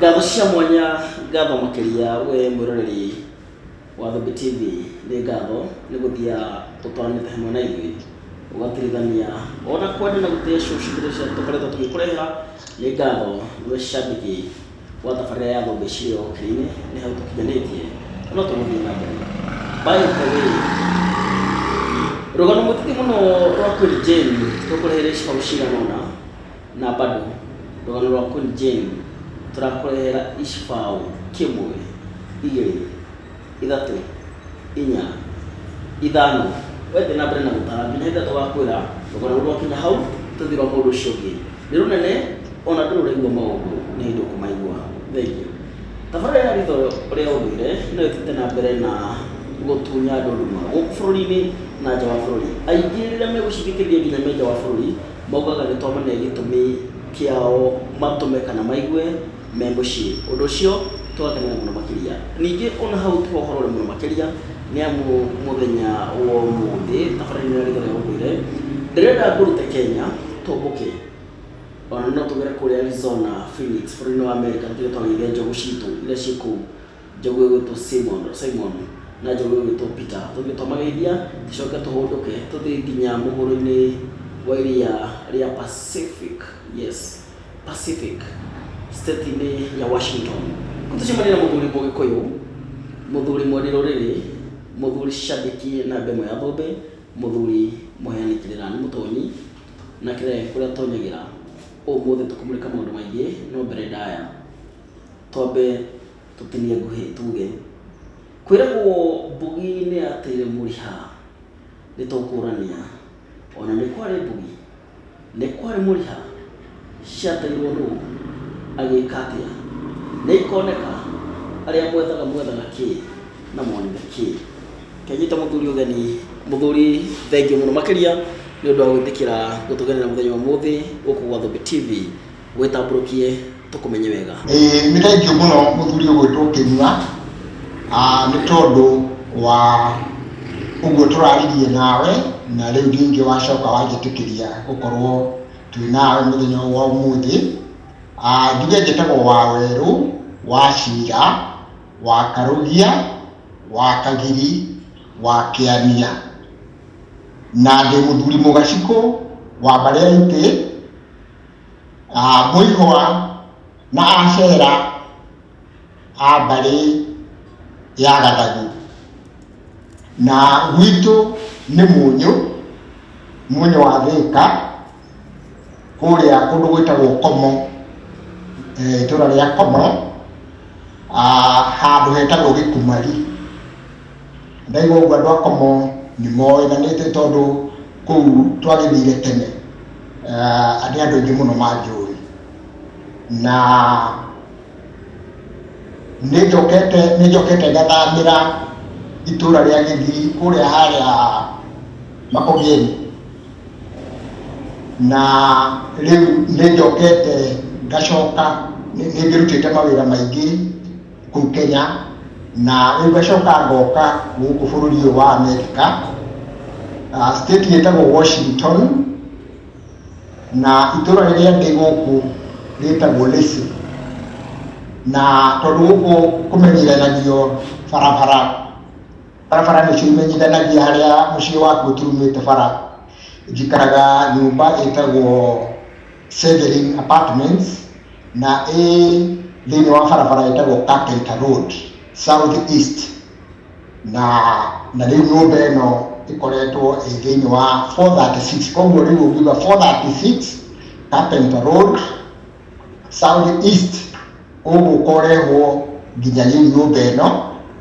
Ngatho cia mwanya, ngatho makĩria we mwĩroreri wa Thumbĩ TV, nĩ ngatho nĩ gũthia ũtwaranĩte hamwe na ithuĩ ũgatuĩrithania ona kwenda na gũtĩa show citũ iria tũkoretwo tũgĩkũrehera. Nĩ ngatho we shabiki wa tabarĩra ya Thumbĩ cirĩ o ũkĩrĩinĩ, nĩ hau tũkinyanĩtie na no tũgũthiĩ na mbere. By the way, rũgano mũthithi mũno rwa Queen Jane tũkũreheire show cigana ũna. Na bado, rũgano rwa Kũri Jane tũrakũrehera icbaũ kĩmwe, igĩrĩ, ithatũ, inya, ithano, wethiĩ na mbere na gũtara nginya ithatũ gakwĩra rũgano rũu rwakinya hau tũthiĩ rwa mũndũ ũcio ũngĩ nĩ rũnene ona ndũrĩ ũraigua maũndũ nĩ hĩndĩ ũkũmaigua. Thengiũ. Tabarĩra ya Ritho rĩa Ũndũire no ĩthiĩte na mbere na gũtunya andũ nduma gũkũ bũrũri-inĩ na nja wa bũrũri. Aingĩ rĩrĩa megũcithikĩrĩria nginya me nja wa bũrũri maugaga nĩ twamane gĩtũmi kĩao matũme kana maigue me mũciĩ. Ũndũ ũcio tũgakenera mũno makĩria. Ningĩ o na hau ti ho ũhoro ũrĩ mũno makĩria, nĩ amu mũthenya wa ũmũthĩ tabarĩra-inĩ ya Rĩĩtwa rĩa Ũndũire, ndĩrenda ngũrute Kenya tũmbũke o na no tũgere kũrĩa Arizona, Phoenix, bũrũri-inĩ wa Amerika tũtige twageithia njogu citũ iria ciĩ kũu Njogu ĩgwĩtwo Simon, Simon, na njogu ĩgwĩtwo Peter. Tũthiĩ twamageithia, tũcoke tũhũndũke, tũthiĩ nginya mũhuro-inĩ wa iria rĩa Pacific, yes, Pacific, state-inĩ ya Washington. Kũu tũcemania na mũthuri Mũgĩkũyũ, mũthuri mwendi rũrĩrĩ, mũthuri cabiki na ndemwa ya thũmbĩ, mũthuri mũheani kĩrĩra. Nĩ mũtonyi na kĩrĩa gĩake kũrĩa atonyagĩra. Ũmũthĩ tũkũmũrĩka maũndũ maingĩ, no mbere ndaya. Twambe tũtinie ngũhĩ tuge. Kwĩragwo mbũgi nĩyateire mũriha, nĩtũkũrania. Ona nĩ kwarĩ mbũgi, nĩ kwarĩ mũriha, ciateirwo nũ, agĩka atĩa? Nĩikoneka, arĩa mwethaga mwethaga kĩ, na mwonire kĩ? Reke nyite mũthuri ũgeni. Mũthuri thengiũ mũno makĩria nĩũndũ wa gwĩtĩkĩra gũtũgenera mũthenya wa ũmũthĩ gũkũ gwa Thũmbĩ TV. Gwĩtambũrũkie tũkũmenye wega. Ĩĩ nĩ thengiũ mũno mũthuri ũgwĩtwo Kĩnyua, nĩ tondũ wa ũguo tũraririe nawe, na rĩu ningĩ wacoka wanjĩtĩkĩria gũkorwo twĩ nawe mũthenya ũyũ wa ũmũthĩ. Njuge njĩtagwo Wawerũ, Wachira, Wakarugia, Wakagiri, Wakĩania, na ndĩ mũthuri mũgacikũ wa mbarĩ ya itĩ. a Mũihũa na Acera a mbarĩ ya Gathagu. Na gwitũ nĩ Mũnyũ, Mũnyũ wa Thĩka, kũrĩa kũndũ gwĩtagwo Komo, eh, itũra rĩa Komo, ah, handũ hetagwo Gĩkumari. Ndaigua ũguo andũ a Komo nĩ moĩganĩte tondũ kũu twagĩthire tene uh, nĩ andũ aingĩ mũno manjũĩ na nĩ njokete nĩ njokete ngathamĩra itũra rĩa Gĩthii kũrĩa harĩa Makogeni na rĩu nĩ njokete ngacoka nĩ ngĩrutĩte mawĩra maingĩ kũu Kenya na rĩu ngacoka ngoka gũkũ bũrũri ũyũ wa Amerika uh, state yĩtagwo Washington na itũra rĩrĩa ndĩ gũkũ rĩtagwo Lacey na tondũ gũkũ kũmenyithanagio barabara barabara nĩcio imenyithanagia harĩa mũciĩ waku ũturumĩte bara njikaraga nyũmba ĩtagwo Severin Apartments na ĩ thĩinĩ wa barabara ĩtagwo Kakeita Road South East na na rĩu nyũmba ĩno ĩkoretwo ĩ thĩinĩ wa 436 koguo rĩu ũngiuga 436 Carpenter Road South East ũgũkorehwo nginya rĩu nyũmba ĩno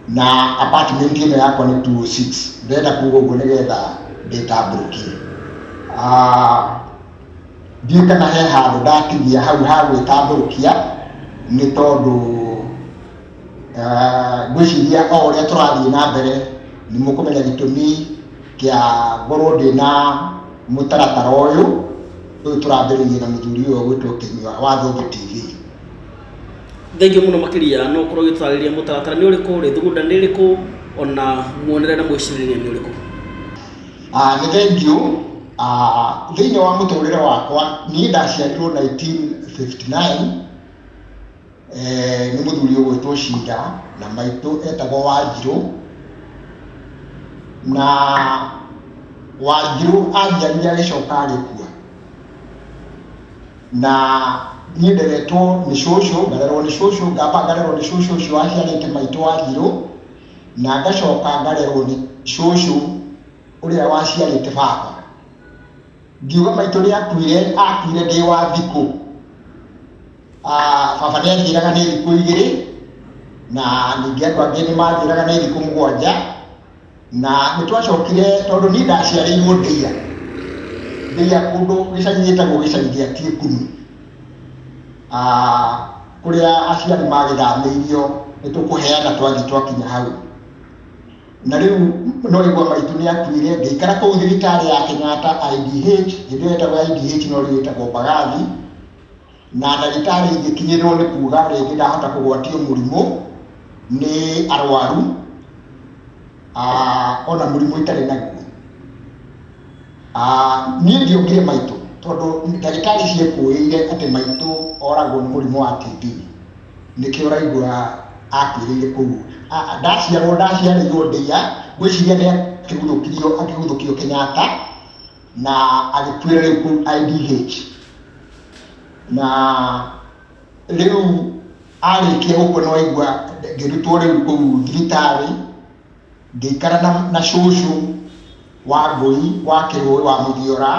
na apartment ĩno yakwa nĩ 206 ndĩrenda kuga ũguo nĩgetha ndĩtambũrũkie Ah, Ndiũĩ kana he handũ ndatigia hau ha gwĩtambũrũkia nĩ tondũ eh, ngwĩciria o ũrĩa tũrathiĩ na mbere nĩ mũkũmenya gĩtũmi kĩa ngorwo ndĩ na mũtaratara ũyũ ũyũ tũrambĩrĩirie na mũthuri ũyũ ũgwĩtwo Kĩnyua wa Thũmbĩ TV. Thengiũ mũno makĩria no ũkorwo ũgĩtũtarĩria mũtaratara nĩ ũrĩkũ, rĩthugunda nĩ rĩkũ, ona muonere na mwĩcirĩrĩria nĩ ũrĩkũ? Ah, nĩ thengiũ ah, thĩinĩ wa mũtũrĩre wakwa niĩ ndaciarirwo 1959 eh, nĩ mũthuri ũgwĩtwo Shinda na maitũ etagwo Wanjirũ na Wanjirũ anjiarire agĩcoka agĩkua na niĩ nderetwo nĩ cũcũ ngarerwo nĩ cũcũ ngamba ngarerwo nĩ cũcũ ũcio waciarĩte maitũ Wanjirũ na ngacoka ngarerwo nĩ cũcũ ũrĩa waciarĩte baba. Ngiuga maitũ nĩakuire, akuire ndĩ wa thikũ. Baba nĩanjĩraga nĩ thikũ igĩrĩ, na ningĩ andũ angĩ nĩmanjĩraga nĩ thikũ mũgwanja, na nĩtwacokire tondũ niĩ ndaciarĩirwo Ndeiya, Ndeiya kũndũ gĩcagi gĩtagwo gĩcagi gĩa Tiekuni. kũrĩa aciari magĩthamĩirio nĩ tũkũheana twathiĩ twakinya hau na rĩu no igwa maitũ nĩ akuire ngĩikara kũu thibitarĩ ya Kenyatta IDH hĩndĩ ĩyo ĩtagwo IDH no rĩu ĩtagwo Mbagathi na ndagĩtarĩ ingĩkinyĩrwo nĩ kuga rĩngĩ ndahota kũgwatio mũrimũ nĩ arwaru ona mũrimũ itarĩ naguo Ah, niĩ ndiongire maitũ tondũ ndagĩtarĩ ciekũĩire atĩ maitũ oragwo nĩ mũrimũ wa TB nĩkĩo ũraigua akuĩrĩire kũu Ah, ah, ndaciarwo ndaciarĩirwo ndĩia ngwĩciria nĩ akĩguthũkirio akĩguthũkio Kenyatta na agĩkuĩra rĩu kũu IDH na rĩu arĩkia gũkua nĩ waigua ngĩrutwo rĩu kũu thibitarĩ Ngĩikara na na cũcũ wa mbũri wa Kĩrũĩ wa Mũthiora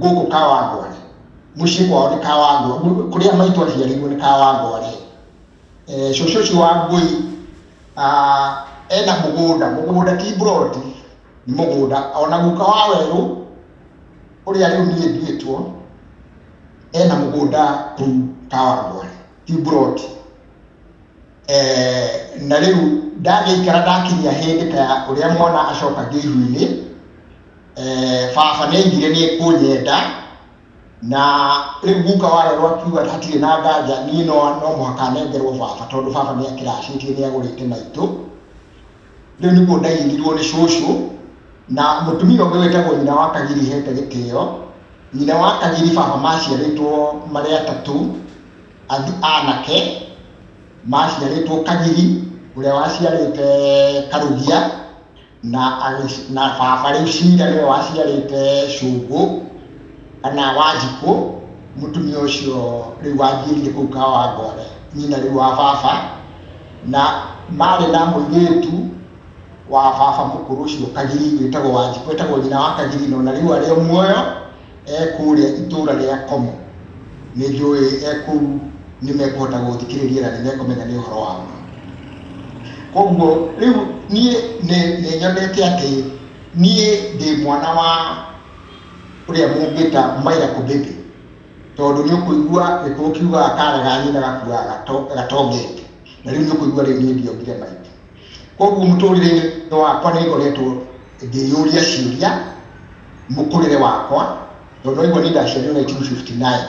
gũkũ Kawangware. Mũciĩ kwao nĩ Kawangware, kũrĩa maitũ aciarirwo nĩ Kawangware. Cũcũ ũcio wa Ngũi ena mũgũnda, mũgũnda ti mburoti, nĩ mũgũnda. Ona guka wa werũ ũrĩa rĩu niĩ nduĩtwo, ena mũgũnda kũu Kawangware. Kiburoti. Na rĩu ndagĩikara ndakinyia hĩndĩ ta ya ũrĩa mwana acokagio ihu-inĩ, baba nĩ aigire nĩ ekũnyenda, na rĩu guka wa Rero akiuga hatirĩ na nganja niĩ no mũhaka nengerwo baba tondũ baba nĩ akĩracĩtie nĩ agũrĩte maitũ. Rĩu nĩguo ndairirwo nĩ cũcũ, na mũtumia ũngĩ wĩtagwo nyina wa Kagiri hete gĩtĩo, Nyina wa Kagiribaba maciarĩtwo marĩ atatũ, ath, anake, maciarĩtwo Kagiri ũrĩa waciarĩte Karugia na, na baba rĩu Cira nĩwe waciarĩte Cũngũ kana Wanjikũ, mũtumia ũcio rĩu wanjiĩrire kũu Kawangware, nyina rĩu wa baba, na marĩ na mũirĩtu wa baba mũkũrũ ũcio Kagiri wĩtagwo Wanjikũ etagwo nyina wa Kagiri no na rĩu arĩ o muoyo ekũrĩa itũũra rĩa Komo nĩ njũĩ ekũu nĩ mekũhota gũthikĩrĩria na nĩ mekũmenya nĩ ũhoro wa ma koguo rĩu niĩ nĩ nyonete atĩ niĩ ndĩ mwana wa ũrĩa mũngĩta maira kũbĩbĩ tondũ nĩ ũkũigua gĩkũũ kiugaga karega nyina gakuaga gatongete na rĩu nĩ ũkũigua rĩu niĩ ndiongire maitũ Koguo mũtũrĩre-inĩ wakwa nĩ ngoretwo ngĩyũria ciũria mũkũrĩre wakwa, tondũ nĩwaigua niĩ ndaciarirwo 1959,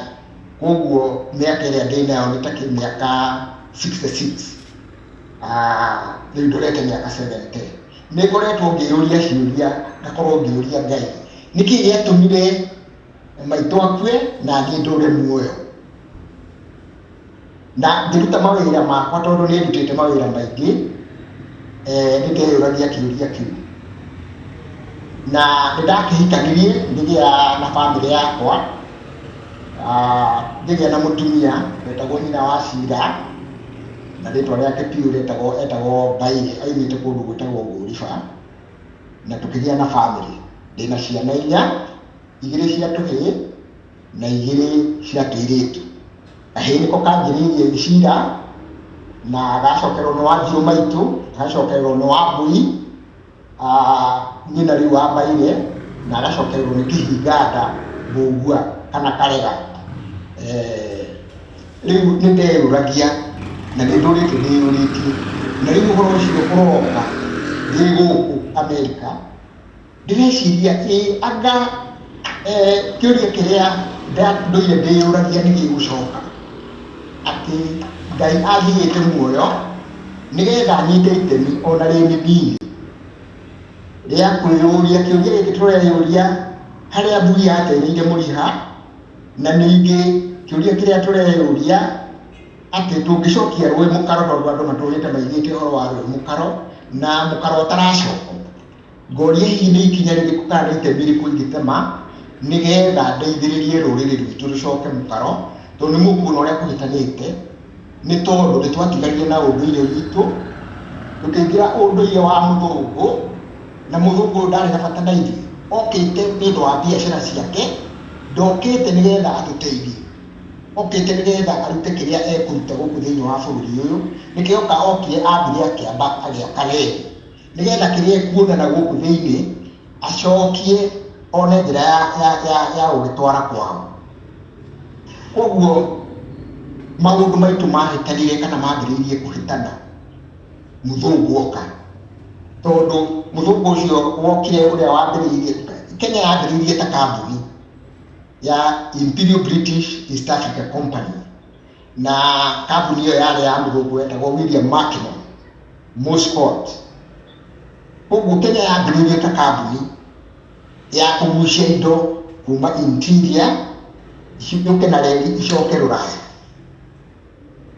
koguo mĩaka ĩrĩa ndĩ nayo nĩ ta kĩmĩaka 66, rĩu ndorete mĩaka 70. Nĩ ngoretwo ngĩyũria ciũria, ngakorwo ngĩũria Ngai, nĩkĩ gĩatũmire maitũ akue na niĩ ndũre muoyo? na ngĩruta mawĩra makwa tondũ nĩ ndutĩte mawĩra maingĩ eh, nĩ ndeyũragia kĩũria kĩu na nĩ ndakĩhikanirie ngĩgĩa na bamĩrĩ yakwa ah, ngĩgĩa na mũtumia wetagwo nyina wa cira na rĩtwa rĩake piũ retagwo etagwo mbaire aimĩte kũndũ gwĩtagwo ngũriba na tũkĩgĩa na bamĩrĩ ndĩna ciana inya igĩrĩ cia tũhĩĩ na igĩrĩ cia tũirĩtu Kahĩĩ nĩko kanjĩrĩirie gĩcira na gacokerwo nĩ wa thiũ maitũ, gacokerwo nĩ wa mbũri, nyina rĩu wa mbaire, na gacokerwo nĩ kĩhinganda mbũngua kana karega. Rĩu nĩ ndeyũragia na nĩ ndũrĩte ndĩyũrĩtie, na rĩu ũhoro ũcio ũroka ndĩ gũkũ Amerika. Ndĩreciria ĩ anga kĩũria kĩrĩa ndũire ndĩyũragia nĩ gĩgũcoka, atĩ Ngai anjigĩte muoyo nĩgetha nyite itemi ona rĩ nĩniĩ rĩa kwĩyũria kĩũria gĩkĩ tũreyũria harĩa mburi yatereire mũrĩha, na ningĩ kĩũria kĩrĩa tũreyũria atĩ tũngĩcokia rũĩ mũkaro tondũ andũ matũrĩte maigĩte ũhoro wa rũĩ mũkaro na mũkaro ũtaracokwo. Ngoria hihi nĩ ikinya rĩrĩkũ kana nĩ itemi rĩrĩkũ ingĩtema nĩgetha ndeithĩrĩrie rũrĩrĩ rwitũ rũcoke mũkaro tondũ nĩ mũkuona ũrĩa kũhĩtanĩte nĩ tondũ nĩ twatiganire na ũndũire witũ tũkĩingĩra ũndũire wa mũthũngũ na mũthũngũ ũyũ ndarĩ na bata na ithuĩ okĩte nĩ ũndũ wa biacara ciake ndokĩte nĩgetha atũteithie okĩte nĩgetha arute kĩrĩa ekũruta gũkũ thĩinĩ wa bũrũri ũyũ nĩkĩo oka okire ambire akĩamba agĩaka reri. nĩgetha kĩrĩa ekuonana gũkũ thĩinĩ acokie one njĩra ya, ya, ya, ya gũgĩtwara kwao koguo maũndũ maitũ mahĩtanire kana mambĩrĩirie kũhĩtana mũthũngũ oka tondũ mũthũngũ ũcio wokire ũrĩa wambĩrĩirie kenya yambĩrĩirie ta kambuni ya imperial british east africa company na kambuni ĩyo yarĩ ya mũthũngũ wetagwo William Marknor Moscot. Ũguo Kenya yambĩrĩirie ta kambuni ya kũgucia indo kuma interior ciũke na reri icoke rũraya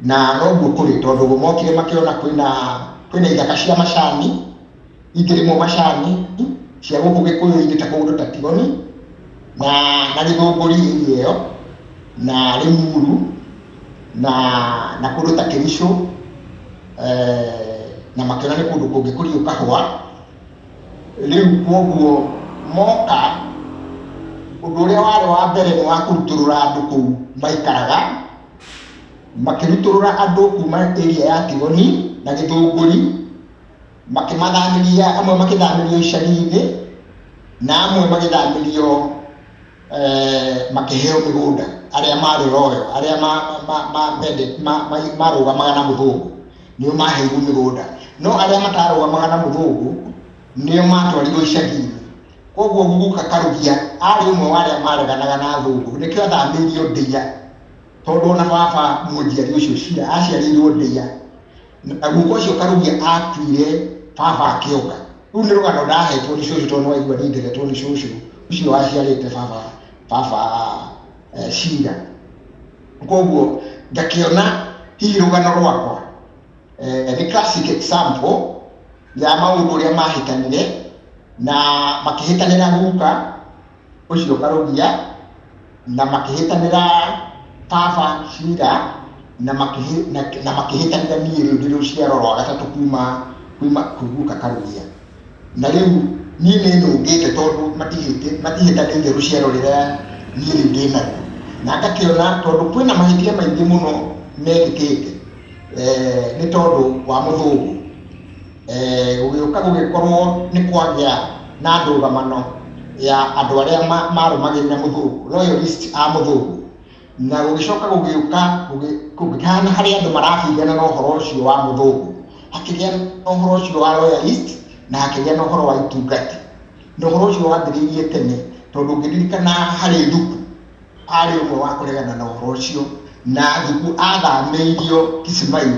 na noguo kũrĩ tondũ mokire makĩona kwĩna kwĩna ithaka cia macani ingĩrĩmwo macani cia gũkũ gĩkũyũ-inĩ ta kũndũ ta tigoni na na gĩthũngũri area ĩyo na rĩmuru na na kũndũ ta kĩricũ eh, na makĩona nĩ kũndũ kũngĩkũrio kahũa rĩu kwoguo moka ũndũ ũrĩa warĩ wa mbere nĩ wa kũrutũrũra andũ kũu maikaraga makĩrutũrũra andũ kuma area ya tigoni na gĩthũngũri makĩmathamĩria amwe makĩthamĩrio icagi-inĩ na amwe magĩthamĩrio eh, makĩheo mĩgũnda arĩa marĩ royo arĩa marũgamaga na mũthũngũ nĩo maheirwo mĩgũnda no arĩa matarũgamaga na mũthũngũ nĩo matwarirwo icagi-inĩ koguo guguka karugia arĩ ũmwe wa arĩa mareganaga na thũngũ nĩkĩo athamĩirio ndĩia tondũ ona baba mũnjiari ũcio cira aciarĩirwo ndĩia Na guka ucio karugia atuire baba akionga. Riu ni rugano ndahetwo ni cucu tondu waigua ni ndegetwo ni cucu ucio waciarite baba baba eh, cira. Koguo ngakiona hihi rugano rwakwa eh, ni classic example ya maundu uria mahitanire na makihitanira guka ũcio karũgia, na makĩhĩtanĩra baba cira, na makĩhĩ, na, na makĩhĩtanĩra niĩ rĩu ndĩ rũciaro rwa gatatũ kuma, kuma kwĩ guka karũgia. Na rĩu niĩ nĩ nũngĩte tondũ matihĩtĩ, matihĩtanĩire rũciaro rĩrĩa niĩ rĩu ndĩ naruo. Na ngakĩona tondũ kwĩna mahĩtia maingĩ mũno mekĩkĩte, eh, nĩ tondũ wa mũthũgũ. eh, gũgĩũka gũgĩkorwo nĩ kwagĩa na ndũgamano ya andũ arĩa ma- marũmagĩrĩra mũthũngũ royalist a mũthũngũ na gũgĩcoka gũgĩũka gũgĩ- gũgĩkana harĩ andũ marabingana na ũhoro ũcio wa mũthũngũ hakĩgĩa na ũhoro ũcio wa royalist na hakĩgĩa na ũhoro wa itungati na ũhoro ũcio wambĩrĩirie tene tondũ ũngĩririkana harĩ thuku arĩ ũmwe wa kũregana na ũhoro ũcio na thuku athamĩirio kisimayo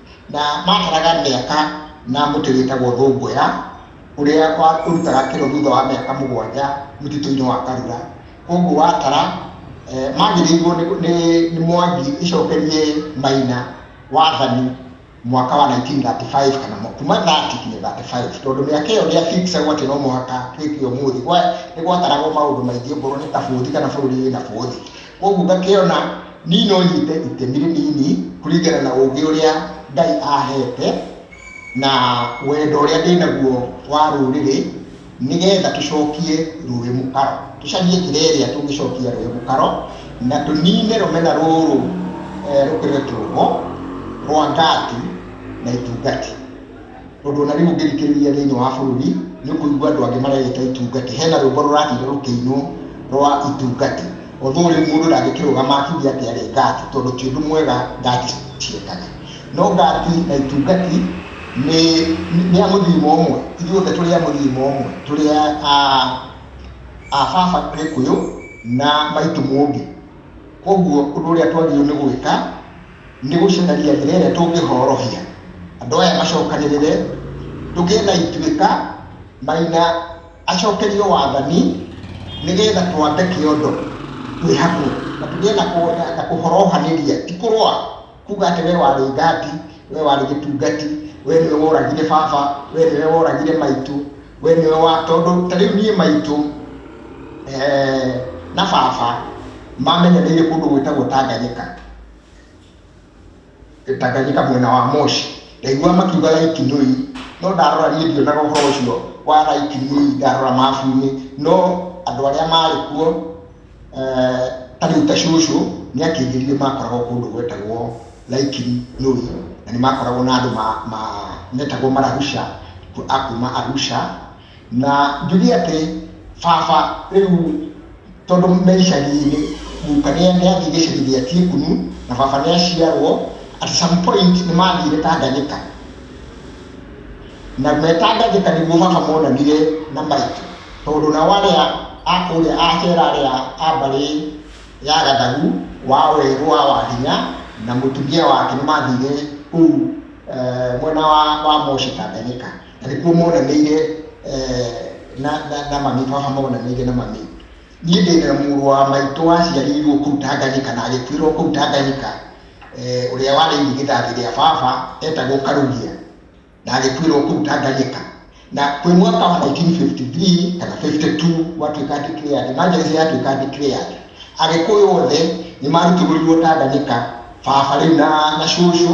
Na maataraga mĩaka na mũtĩ wĩtagwo thũngũya, ũrĩa ũrutaga kĩro thutha wa mĩaka mũgwanja mũtitũ-inĩ wa Karura. Kwoguo watara, maagĩrĩirwo nĩ Mwangi ĩcokerie Maina wathani mwaka wa nineteen thirty five kana kuma thirty nginya thirty five. Tondũ mĩaka ĩyo ndĩa fix agwo atĩ no mũhaka twĩke ũmũthĩ. Nĩ gwataragwo maũndũ maingĩ okorwo nĩ ta bũthi kana bũrũri wĩna bũthi. Kwoguo ngakĩona niĩ no nyite itemi rĩnini kũringana na ũũgĩ ũrĩa Ngai aheete na wendo ũrĩa ndĩ naguo wa rũrĩrĩ nĩ getha tũcokie rũĩ mũkaro. Tũcarie njĩra ĩrĩa tũngĩcokia rũĩ mũkaro na tũnine rũmena rũrũ rũkoretwo ho rwa Ngati na Itungati. Ũndũ ona rĩu ũngĩthikĩrĩria thĩinĩ wa bũrũri nĩ ũkũigua andũ angĩ mareĩta itungati. Hena rwĩmbo rũrathire rũkĩinwo rwa itungati. Although rĩu mũndũ ndangĩkĩrũgama akiuge atĩ arĩ ngati tondũ ti ũndũ mwega ngati ciekaga. No ngati na itungati nĩ nĩ a mũthirima ũmwe. Ithuĩ othe tũrĩ a mũthirima ũmwe. Tũrĩ a a baba Gĩkũyũ na maitũ Mũmbi. Kwoguo ũndũ ũrĩa twagĩrĩirwo nĩ gwĩka Nĩ gũcaria njĩra ĩrĩa tũngĩhorohia andũ aya macokanĩrĩre, tũgĩe na ituĩka, Maina acokerio wathani nĩgetha twambe kĩondo twĩ hamwe na tũgĩe na kũhorohanĩria ti kũrũa kuga atĩ we warĩ ngati, we warĩ gĩtungati, we nĩwe woragire baba, we nĩwe woragire maitũ, we nĩwe wa, tondũ ta rĩu niĩ maitũ na baba mamenyanĩire kũndũ gwĩtagwo Tanganyika. Gĩtanganyika mwena wa Moshi. Ndaiguaga makiuga Lake Nui, no ndarora niĩ ndionaga ũhoro ũcio wa Lake Nui, ndarora mabu-inĩ, no andũ arĩa marĩ kuo, ta rĩu ta cũcũ nĩ akĩnjĩrire makoragwo kũndũ gwetagwo Lake Nui, na nĩ makoragwo na andũ metagwo Mararusha, a kuma Arusha. Na njuge atĩ baba rĩu tondũ me icagi-inĩ, guka nĩ athiĩ gĩcagi gĩa Tiekunu na baba nĩ aciarwo, at some point nĩ mathire Tanganyika. Na me Tanganyika nĩguo baba monanire na maitũ, tondũ nao arĩa a kũrĩa a Kera arĩa a mbarĩ ya Gathagu, wa Werũ, wa Wahinya na mũtumia wake nĩ mathire kũu mwena wa Moshi Tanganyika. nĩkuo monanĩire eh, na na- na mami baba monanĩire na mami niĩ ndĩna mũrũ wa maitũ waciarirwo kũu tanganyika na agĩkuĩrwo kũu tanganyika eh, ũrĩa warĩire gĩthathi rĩa baba etagwo karugia na agĩkuĩrwo kũu tanganyika na kwĩ mwaka wa 1953 kana 52 watuĩka declared emergency yatuĩka declared agĩkũyũ othe nĩ marutigũrirwo tanganyika baba rĩu na na cũcũ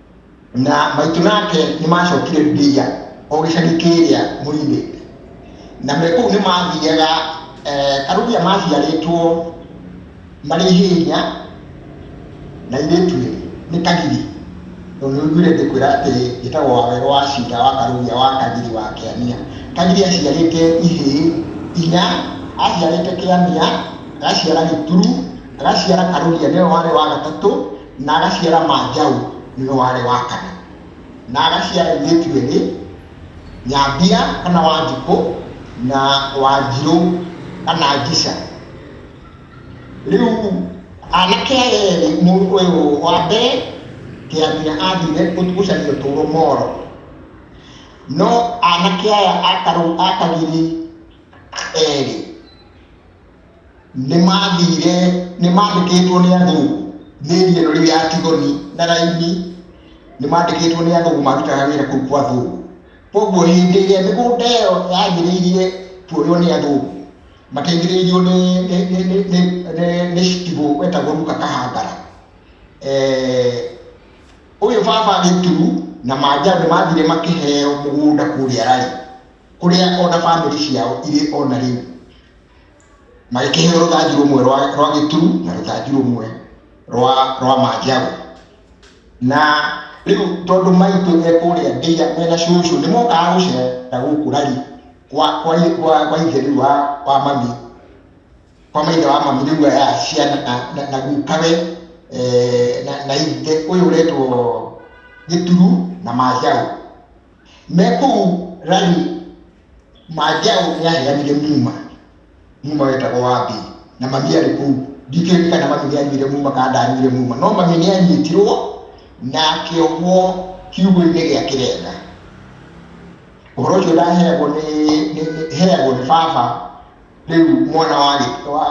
Na maitũ nake nĩmacokire Gibeia, o gĩcagi kĩrĩa moimĩte. Na me kũu nĩmathiiaga, karũũgĩa maaciarĩtwo marĩ ihĩĩnya, na airĩĩtu eerĩ, nĩ kagiri, tondũ nĩũiguire ngĩkwĩra atĩ geetagwo Waweru wa Ciira wa Karũũgĩa wa Kagiri wa Kĩania. Kagiri aaciarĩĩte ihĩĩ inya, aaciarĩĩte Kĩania, agaciara Gĩturu, agaciara Karũũgĩa nĩwe warĩ wa gatatũ. Na agaciara Manjaũ, nĩwe warĩ wa kana. Na agaciara airĩtu erĩ, Nyambia kana Wanjikũ na Wanjirũ kana Njica. Rĩu anake aya erĩ, mũndũ ũyũ wa mbere Kĩamina athire gũcaria ũtũũro Moro, no anake aya a Karũgiri erĩ, nĩ maathire, nĩ maandĩkĩtwo nĩ andũ mĩri ĩno rĩu ya Tigoni na raini, nĩ maandĩkĩtwo nĩ athũngũ marutaga wĩra kũu kwa athũngũ. Koguo hĩndĩ ĩrĩa mĩgũnda ĩyo yanjĩrĩirie kuoywo nĩ athũngũ, mateithĩrĩirio nĩ, nĩ, nĩ, nĩ, nĩ, nĩ, nĩ citibũ wetagwo Luka Kahangara. Eh, ũyũ baba Gĩturu na Manjaũ nĩ mathire makĩheo mũgũnda kũrĩa Rari, kũrĩa ona bamĩrĩ ciao irĩ ona rĩu. magĩkĩheo rũthanju rũmwe rwa, rwa gĩturu na rũthanju rũmwe rwa, rwa manjaũ na rĩu tondũ maitũ e kũrĩa ndĩia mena cũcũ nĩ mokaga gũcera gũkũ rari kwa, kwa, kwa, kwa ithe rĩu wa, wa mami kwa maithe wa mami rĩu aya ciana na, na, na gukawe e, na, na ithe ũyũ ũretwo gĩturu na manjaũ mekũu rani mangĩa ũrĩahĩa nire muma muma wetagwo wa mbĩ na mami arĩ kũu ndikĩũĩ kana mami nĩanyuire muma kana ndanyuire muma no mami nĩanyitirwo na akĩohwo kiugo-inĩ gĩa kĩrenga ũhoro ũcio ndaheagwo nĩ heagwo nĩ baba rĩu mwana wa wa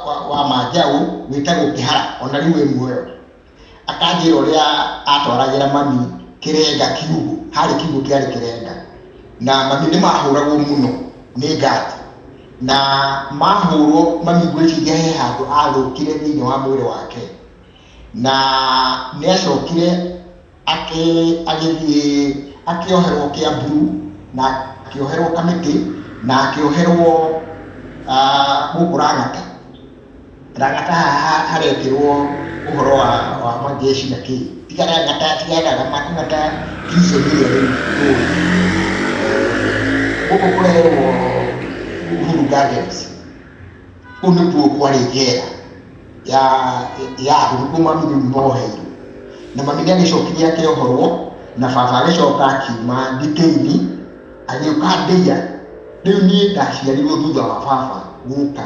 wa wa manjaũ wĩtagwo kĩhara ona rĩu wĩ muoyo Akanjĩra ũrĩa atwaragĩra mami kĩrenga kiugũ, harĩ kiugũ kĩarĩ kĩrenga, na mami nĩ mahũragwo mũno nĩ ngati, na mahũrwo mami ngwĩciria he handũ athũkire thĩinĩ wa mwĩrĩ wake, na nĩ acokire agĩthiĩ akĩoherwo Kĩambu, na akĩoherwo Kamĩtĩ, na akĩoherwo gũkũ Lang'ata. Ragata haha harekĩrwo ũhoro wa wa majeshi na kĩ. Tiga ragata, tiga ragata, ragata prison ĩrĩa rĩu tũĩ. Gũkũ kũrerwo Uhuru Gardens. Kũu nĩkuo kwarĩ njera ya ya andũ nĩkuo mami rĩu moheirwo. Na mami nĩagĩcokire akĩohorwo na baba agĩcoka akiuma thitĩini agĩũka ndĩia. Rĩu niĩ ndaciarirwo thutha wa baba gũka.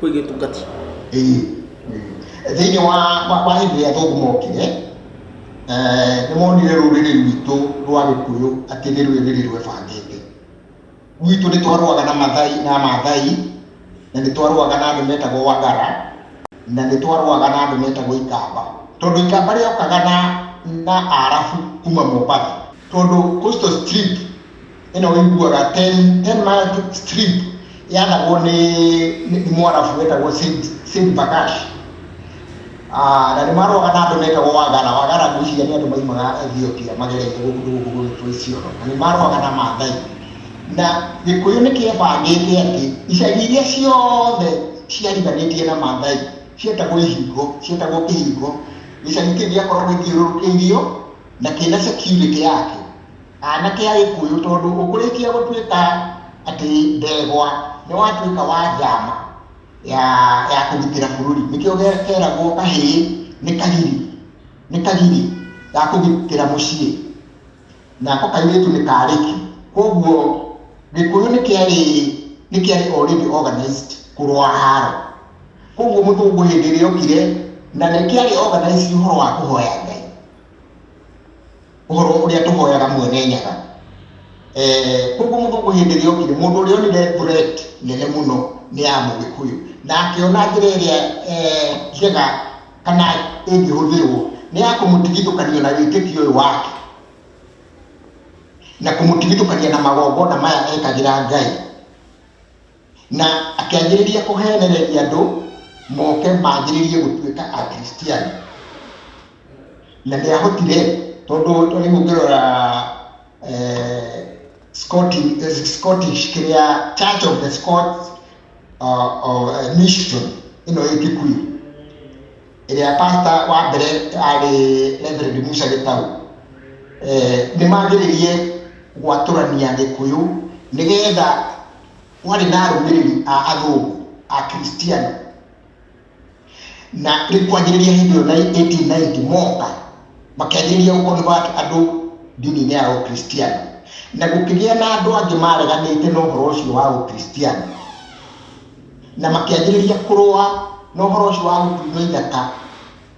kwä gä tungati Ĩĩ. thĩinĩ wa wa- wa hĩndĩ ĩrĩa athũngũ mokire eh, nĩ monire rũrĩrĩ rwitũ rwa gĩkũyũ atĩ nĩ rũrĩrĩ rwebangĩte gwitũ nĩ twarũaga na mathai na mathai na nĩ twarũaga na andũ metagwo wagara na nĩ twarũaga na andũ metagwo ikamba tondũ ikamba rĩokaga na na arabu kuma mombatha tondũ coastal strip ĩno ũiguaga ten ten mile strip yanagwo nĩ nĩ nĩ mwarabu wetagwo Said Said Bakash Ah, na nĩ maroaga na andũ metagwo wagara wagara ngwĩciria nĩ andũ maimaga ethiopia magereire gũkũ gũkũ gũgĩtwo iciono na nĩ maroaga na mathai na gĩkũyũ nĩ kĩebangĩte atĩ icagi iria ciothe ciariganĩtie na mathai cietagwo ihingo cietagwo kĩhingo gĩcagi kĩu gĩakoragwo gĩthiũrũrũkĩirio na kĩna security yake anake a Gĩkũyũ tondũ ũkũrĩkia gũtuĩka atĩ ndegwa nĩ watuĩka wa njama ya ya kũgitĩra bũrũri nĩkĩo keragwo kahĩĩ nĩ kagiri nĩ kagiri ga kũgitĩra mũciĩ nako kairĩtu nĩ karĩki koguo Gĩkũyũ nĩ kĩarĩ nĩ kĩarĩ already organized kũrũa haro koguo mũthũngũ hĩndĩ ĩrĩa okire na nĩ kĩarĩ organized ũhoro wa kũhoya Ngai ũhoro ũrĩa tũhoyaga mwene nyaga. Eh, koguo mũthũngũ hĩndĩ ĩrĩa okire mũndũ ũrĩa onire threat nene mũno nĩ ya mũgĩkũyũ na akĩona njĩra ĩrĩa eh, njega kana ĩngĩhũthĩrwo nĩ ya kũmũtigithũkania na wĩtĩkio ũyũ wake na kũmũtigithũkania na magongona maya ekagĩra ngai na akĩanjĩrĩria kũheenereria andũ moke manjĩrĩrie gũtuĩka Akristiano. Na nĩ ahotire tondũ rĩu ũngĩrora eh, Scottish, eh, Scottish kĩrĩa Church of the Scots uh, of, uh, Mission ĩno ĩ Kikuyu ĩrĩa pasta wa mbere arĩ Reverend Musa Gĩtau eh, nĩ manjĩrĩrie gwatũrania Gĩkũyũ nĩgetha warĩ na arũmĩrĩri a athũngũ a kristiano na rĩu kwanjĩrĩria hĩndĩ ĩyo na 1890 moka makenjĩrĩria gũkonvati andũ ndini-inĩ ya ũkristiano na gũkĩgĩa na andũ angĩ mareganĩte na ũhoro ũcio wa ũkristiano na makĩanjĩrĩria kũrũa na ũhoro ũcio wa gũtunywo ithaka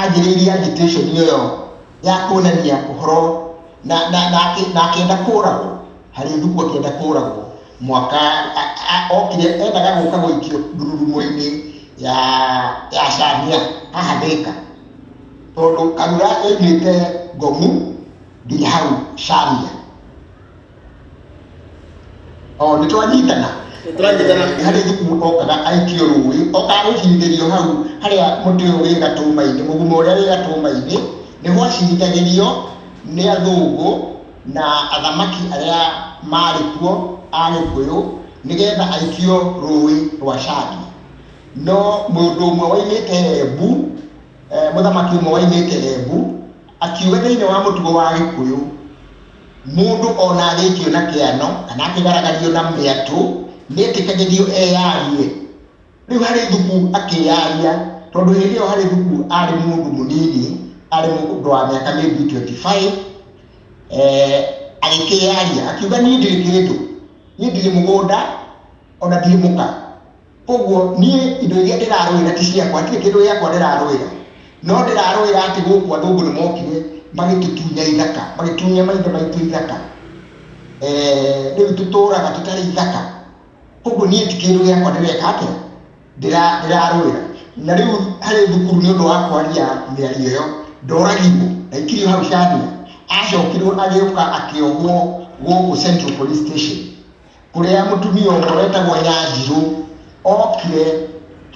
anjĩrĩirie agitation ĩyo ya kuonania ũhoro na na na akĩ- na akenda kũragwo harĩ thuku akenda kũragwo mwaka a- a- okire endaga gũka gũikio ndururumo-inĩ ya ya camia haha thĩka tondũ karura yaimĩte ngomu nginya hau camia o nĩ twanyitana Tũranyitana. harĩ gĩkuũ okaga aikio rũĩ okaga gũcirithĩrio hau harĩa mũtĩ ũyũ wĩ gatũma-inĩ mũguma ũrĩa wĩ gatũma-inĩ nĩho acirithagĩrio nĩ athũngũ na athamaki arĩa marĩ kuo a gĩkũyũ nĩgetha aikio rũĩ rwa cagi no mũndũ ũmwe waimĩte embu eh, mũthamaki ũmwe waimĩte embu Akiuga thĩinĩ wa mũtugo wa Gĩkũyũ, mũndũ o na arĩkio na kĩano kana akĩgaragario na mĩatũ nĩ etĩkagĩrio eyarie. Rĩu harĩ Thuku akĩyaria tondũ hĩndĩ ĩyo harĩ Thuku arĩ mũndũ mũnini, arĩ mũndũ wa mĩaka maybe twenty five, agĩkĩyaria akiuga niĩ ndirĩ kĩndũ, niĩ ndirĩ mũgũnda o na ndirĩ mũka. Ũguo niĩ indo iria ndĩrarũĩra ti ciakwa, hatirĩ kĩndũ gĩakwa ndĩrarũĩra, no ndĩrarũĩra atĩ gũkũ andũ ũguo nĩ mokire magĩtũtunya ithaka, magĩtunya maithe maitũ ithaka, eh, rĩu tũtũũraga tũtarĩ ithaka. Ũguo niĩ ti kĩndũ gĩakwa ndĩreka atĩa, Ndĩra- ndĩrarũĩra. Na rĩu harĩ thukuru nĩ ũndũ wa kwaria mĩario ĩyo, ndoragirwo, ndaikirio hau Chania, acokirwo agĩũka akĩohwo gũkũ Central Police Station. kũrĩa mũtumia ũmwe wetagwo Nyanjirũ okire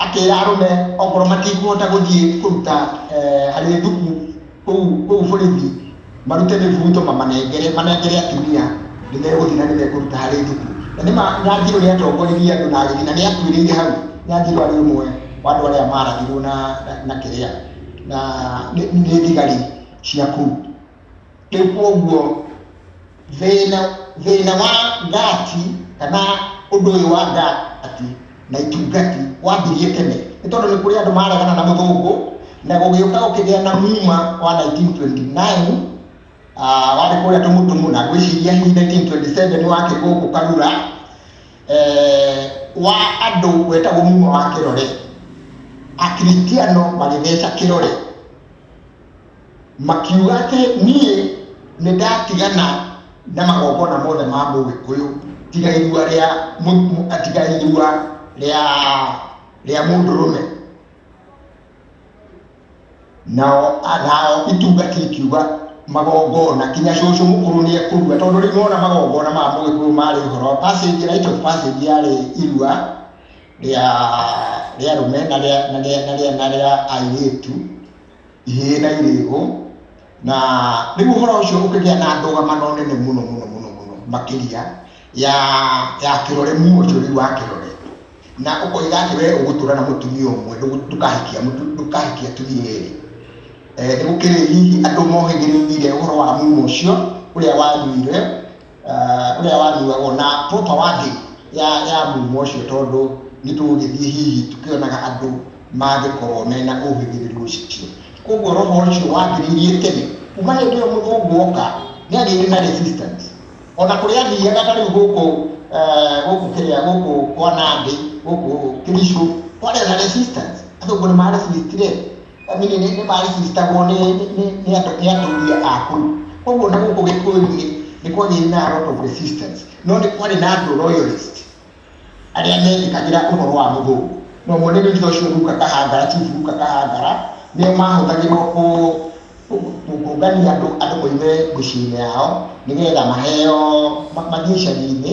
akĩra arũme okorwo matikũhota gũthiĩ kũruta harĩ thuku kũu borithi marute mĩbuto mamanengere manengere atumia nĩ megũthiĩ na nĩ mekũruta harĩ thuku. Na nĩ ma Nyanjirũ nĩ atongoririe andũ na agĩthiĩ na nĩ akuĩrĩire hau. Nyanjirũ arĩ ũmwe wa andũ arĩa marathirwo na kĩrĩa na nĩ thigari cia kũu. Rĩu kwoguo thĩna thĩna wa ngati kana ũndũ ũyũ wa ngati na itungati wambirie tene nĩ tondũ nĩ kũrĩ andũ maregana na mũthũngũ na gũgĩũka gũkĩgĩa na muma wa 1929 ah, warĩ kũrĩa tũmutumu na ngwĩciria hihi 1927 wakĩrĩ gũkũ karura eh, wa andũ wetagwo muma wa kĩrore akristiano magĩtheca kĩrore Makiuga atĩ, Niĩ nĩ ndatigana na magongona mothe ma Mũgĩkũyũ, tiga irua rĩa tiga irua rĩa rĩa mũndũrũme. Nao nao itungati ikiuga, Magongona kinya cũcũ mũkũrũ nĩ ekũrua, tondũ rĩu mona magongona ma Mũgĩkũyũ marĩ ũhoro passage rite of passage yarĩ irua rĩa rĩa arũme na rĩa na rĩa na rĩa na rĩa airĩtu. ihĩĩ na irĩĩgũ na rĩu ũhoro ũcio ũkĩgĩa na ndũgamano nene mũno mũno mũno mũno makĩria ya ya kĩrore muochori wa kĩrore na ũkoiga atĩ wee ũgũtũra na mũtumia ũmwe ndũkahikia ndũkahikia atumia erĩ eh, nĩ gũkĩrĩ hihi andũ mohĩgĩrĩire ũhoro wa mumo ũcio ũrĩa wanyuire ũrĩa uh, wanyuagwo na proper wording ya, ya mumo ũcio tondũ nĩ tũgũgĩthiĩ hihi tũkĩonaga andũ mangĩkorwo mena ũhĩgĩrĩru ũcio koguo roho ũcio wambĩrĩirie tene kuma hĩndĩ ĩyo mũthũngũ oka nĩ agĩire na resistance ona kũrĩa athiaga ta rĩu gũkũ eh, gũkũ kĩrĩa gũkũ kwa nandĩ gũkũ kĩricũ kwarĩ na resistance athũngũ nĩ maresistire Famĩlĩ nĩ nĩ marĩcitagwo nĩ nĩ- nĩ- nĩ andũ- nĩ atumia aku koguo na gũkũ gĩkũyũ-inĩ nĩ kwagĩire na lot of resistance no nĩ kwarĩ na andũ royalist arĩa methĩkagĩra ũhoro wa mũthũngũ na ũmwe nĩ Ritho ũcio Ruka Kahangara chief Ruka Kahangara nĩo mahũthagĩrwo kũ kũngania andũ andũ moime mĩciĩ-inĩ yao nĩgetha maheo ma- mathiĩ icagi-inĩ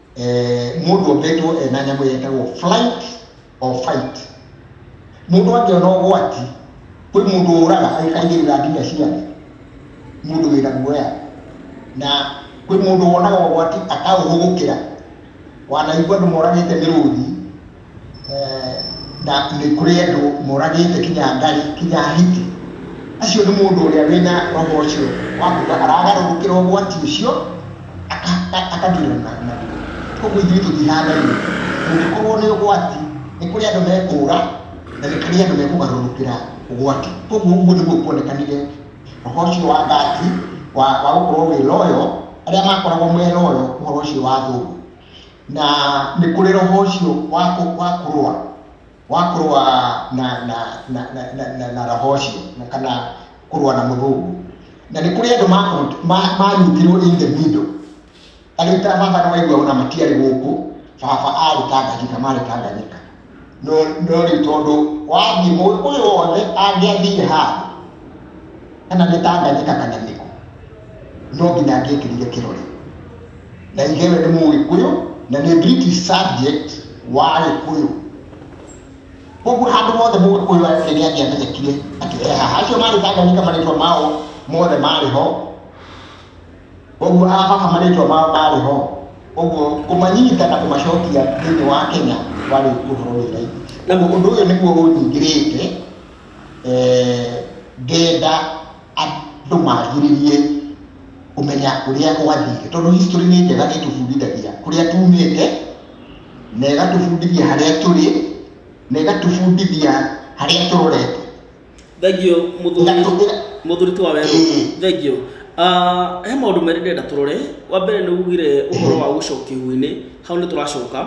mũndũ ombĩtwo ena nyamũ yetagwo flight or fight mũndũ angĩona ũgwati kwĩ mũndũ ũraga aikaingĩrĩra nginya ciathĩ mũndũ wĩna guoya na kwĩ mũndũ wonaga ũgwati akaũhũgũkĩra wanaigua andũ moragĩte mĩrũthi na nĩ kũrĩ andũ moragĩte kinya ngari kinya hiti acio nĩ mũndũ ũrĩa wĩna roho ũcio wa kuga aragarũrũkĩra ũgwati ũcio akatwĩra naguo koguo ithuĩ tũtihanaine kũngĩkorwo nĩ ũgwati nĩ kũrĩ andũ mekũra na nĩ kũrĩ andũ mekũgarũrũkĩra ũgwati koguo ũguo nĩguo kuonekanire roho ũcio wa gati wa gũkorwo wĩ loyo arĩa makoragwo me loyo ũhoro ũcio wa thũgũ na nĩ kũrĩ roho ũcio wa kũ- wa kũrũa wa kũrũa na na na na na, na, na roho ũcio na kana kũrũa na mũthũngũ na nĩ kũrĩ andũ makũ- ma- manyitirwo in the middle tarĩu ta baba nĩwaigua ona matiarĩ gũkũ baba arĩ tanganyika marĩ tanganyika no no rĩu tondũ wathiĩ mũgĩkũyũ wothe angĩathiire handũ kana nĩ tanganyika kana nĩkũ no nginya angĩekĩrire kĩrore na ithe we nĩ mũgĩkũyũ na nĩ british subject wa gĩkũyũ koguo handũ hothe mũgĩkũyũ arĩ nĩ angĩamenyekire atĩ ehaha acio marĩ tanganyika marĩtwa mao mothe marĩ ho Ũguo aamaha marĩĩtwa mao maarĩ ho, ũguo kũmanyita na kũmacokia thĩinĩ wa Kenya kwarĩ ũhoro wĩ raithi. Ũguo ũndũ ũyũ nĩguo ũnyingĩrĩte ngenda andũ manjĩrĩrie kũmenya ũrĩa gwathire, tondũ history nĩ njega nĩ ĩtũbundithagia kũrĩa tuumĩte, na ĩgatũbundithia harĩa tũrĩ, na ĩgatũbundithia harĩa tũrorete. thengio na tũhũthĩre mũthuri ti wa werũ Mm. thengio Ah, he maũndũ merĩ ndĩrenda tũrore wa mbere nĩ ugire ũhoro wa gũcoka ihu-inĩ hau nĩ tũracoka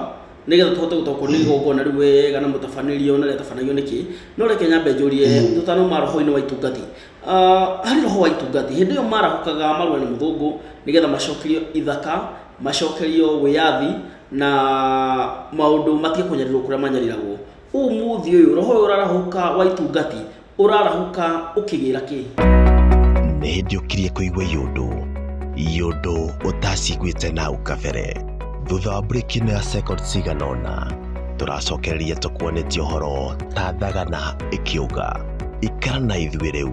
nĩgetha tũhote gũtaũkwo nĩ igongona rĩu wega na mũtabanĩrio na rĩatabanagio nĩkĩ no reke nyambe njũrie tũtanauma roho-inĩ wa itungati Ah, harĩ roho wa itungati hĩndĩ ĩyo marahũkaga marũa nĩ mũthũngũ nĩgetha macokerio ithaka macokerio wĩyathi na maũndũ matige kũnyarirwo kũrĩa manyariragwo Ũmũthĩ ũyũ roho ũyũ ũrarahũka wa itungati ũrarahũka ũkĩgĩra kĩ? nĩ hĩndĩ ũkirie kũigua yũndũ yũndũ ũtaciguĩte nau kabere thutha wa mburĩki ĩno ya second cigana ũna tũracokereria tũkuonetie ũhoro ta thagana ĩkĩũga ikara na ithuĩ rĩu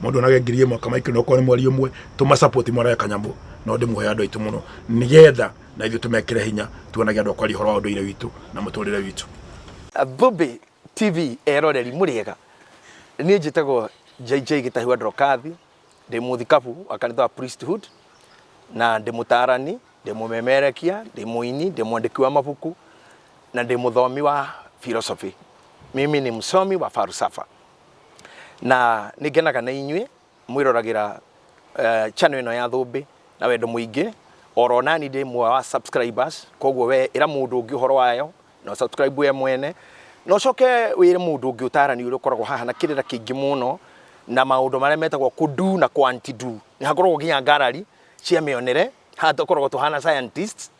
mundu onage ngiri imwe kama ikiri okorwo ni mweri umwe tuma support mwanawe kanyambo no ndimuhe andu aitu muno nigetha na ithu tumekire hinya tuonage andu akwari horo wa unduire witu na muturire witu Thũmbĩ TV eroreri mũrĩega niĩ njĩtagwo JJ Gĩtahiwa Ndrokathi ndĩ mũthikabu wa kanitha wa Priesthood na ndĩ mũtarani ndĩ mũmemerekia ndĩ mũini ndĩ mwandĩki wa mabuku na ndĩ mũthomi wa philosophy mimi ni msomi wa falsafa na nĩ ngenaga na inyuĩ mwĩroragĩra eh, channel ĩno ya Thũmbĩ na wendo mũingĩ oro nani ndĩ mwe wa subscribers koguo we ĩra mũndũ ũngĩ ũhoro wayo na subscribe we mwene na ũcoke wĩre mũndũ ũngĩ ũtarani ũrĩa ũkoragwo haha na kĩrĩra kĩingĩ mũno na maũndũ marĩa metagwo kudu na kwantidu nĩ hakoragwo nginya ngarari cia mĩonere haha tũkoragwo tũhana scientists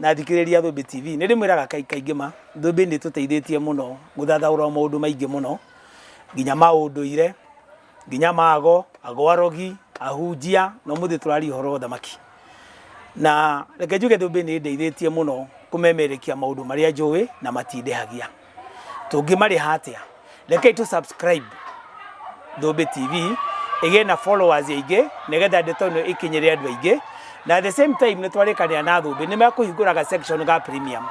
na thikĩrĩria Thũmbĩ TV. Nĩ ndĩmwĩraga kaingĩ ma, Thũmbĩ nĩ ĩtũteithĩtie mũno gũthathaũra maũndũ maingĩ mũno, nginya ma ũndũire, nginya ma ago, ago arogi, ahunjia, na ũmũthĩ tũraria ũhoro wa ũthamaki. Na reke njuge Thũmbĩ nĩ ĩndeithĩtie mũno kũmemerekia maũndũ marĩa njũĩ na matindehagia. tũngĩmarĩha atĩa rekei tũ subscribe Thũmbĩ TV ĩgĩe na followers aingĩ nĩgetha ndeto ĩno ĩkinyĩre andũ aingĩ na at the same time nĩ twarĩkanĩra na Thũmbĩ nĩ mekũhingũraga section ga premium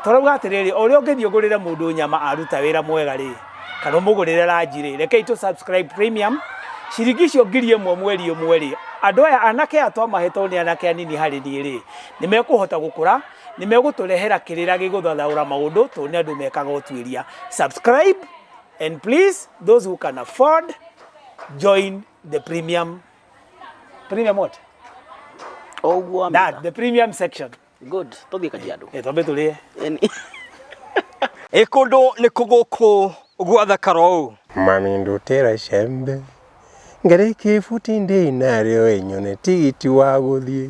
tũrauga atĩrĩrĩ o ũrĩa ũngĩthiĩ ũgũrĩre mũndũ nyama aruta wĩra mwega rĩ kana ũmũgũrĩre ranji rĩ rekei tũ subscribe premium ciringi icio ngiri ĩmwe mweri ũmwe rĩ andũ aya anake aya twamahetwo nĩ anake anini harĩ niĩ rĩ nĩ mekũhota gũkũra Nĩ megũtũrehera kĩrĩra gĩgũthathaũra maũndũ tondũ nĩ andũ mekaga ũtuĩria. Subscribe and please those who can afford join the premium premium what? O ũguo wa That mĩaka. the premium section. Good. Tũthiĩ Kajiado. Eh twambe tũrĩe. Yaani- Ĩ kũndũ nĩ kũgũkũ gwathakara ũũ Mami ndutĩra icembe ngarĩkie ibuti ndĩ narĩo ĩnyone tigiti wa gũthiĩ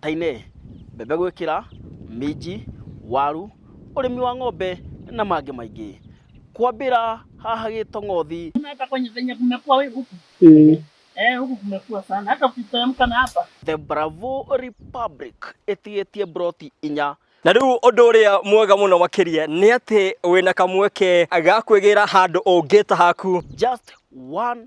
ta-inĩ, mbembe gwĩkĩra, minji, waru, ũrĩmi wa ng'ombe na mangĩ maingĩ. Kwambĩra haha Gĩtong'othi. The Bravo Republic ĩtigĩtie mburoti inya. Na rĩu ũndũ ũrĩa mwega mũno makĩria nĩ atĩ wĩna kamweke ga kwĩgĩra handũ ũngĩta haku. Just one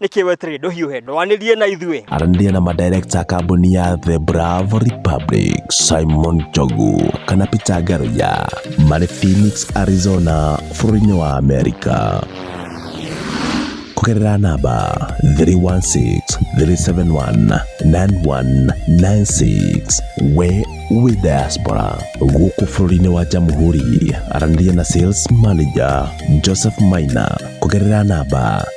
nĩkĩ weterere ndũhiũhe ndwanĩrie na ithuĩ aranĩria na madirekta a kambuni ya the bravo republic simon jogu kana peter garoya marĩ phoenix arizona bũrũri-inĩ wa amerika kũgerera namba 316-371-9196 we wĩ diaspora gũkũ bũrũri-inĩ wa jamhuri aranĩria na sales manager joseph maina kũgerera namba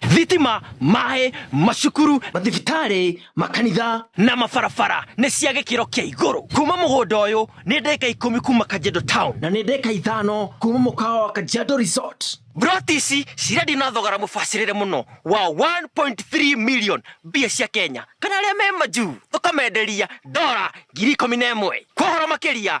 thitima maĩ macukuru mathibitarĩ makanitha na mabarabara nĩ cia gĩkĩro kĩa igũrũ kuma mũgũnda ũyũ nĩ ndeka ikũmi kuma kanjendo town na nĩ ndeka ithano kuma mũkawa wa kanjendo resort Broti ici cirendio na thogora mũbacĩrĩre mũno wa 1.3 million mbia cia Kenya kana arĩa me majuu tũkamenderia dora ngiri ikũmi na ĩmwe kwa ũhoro makĩria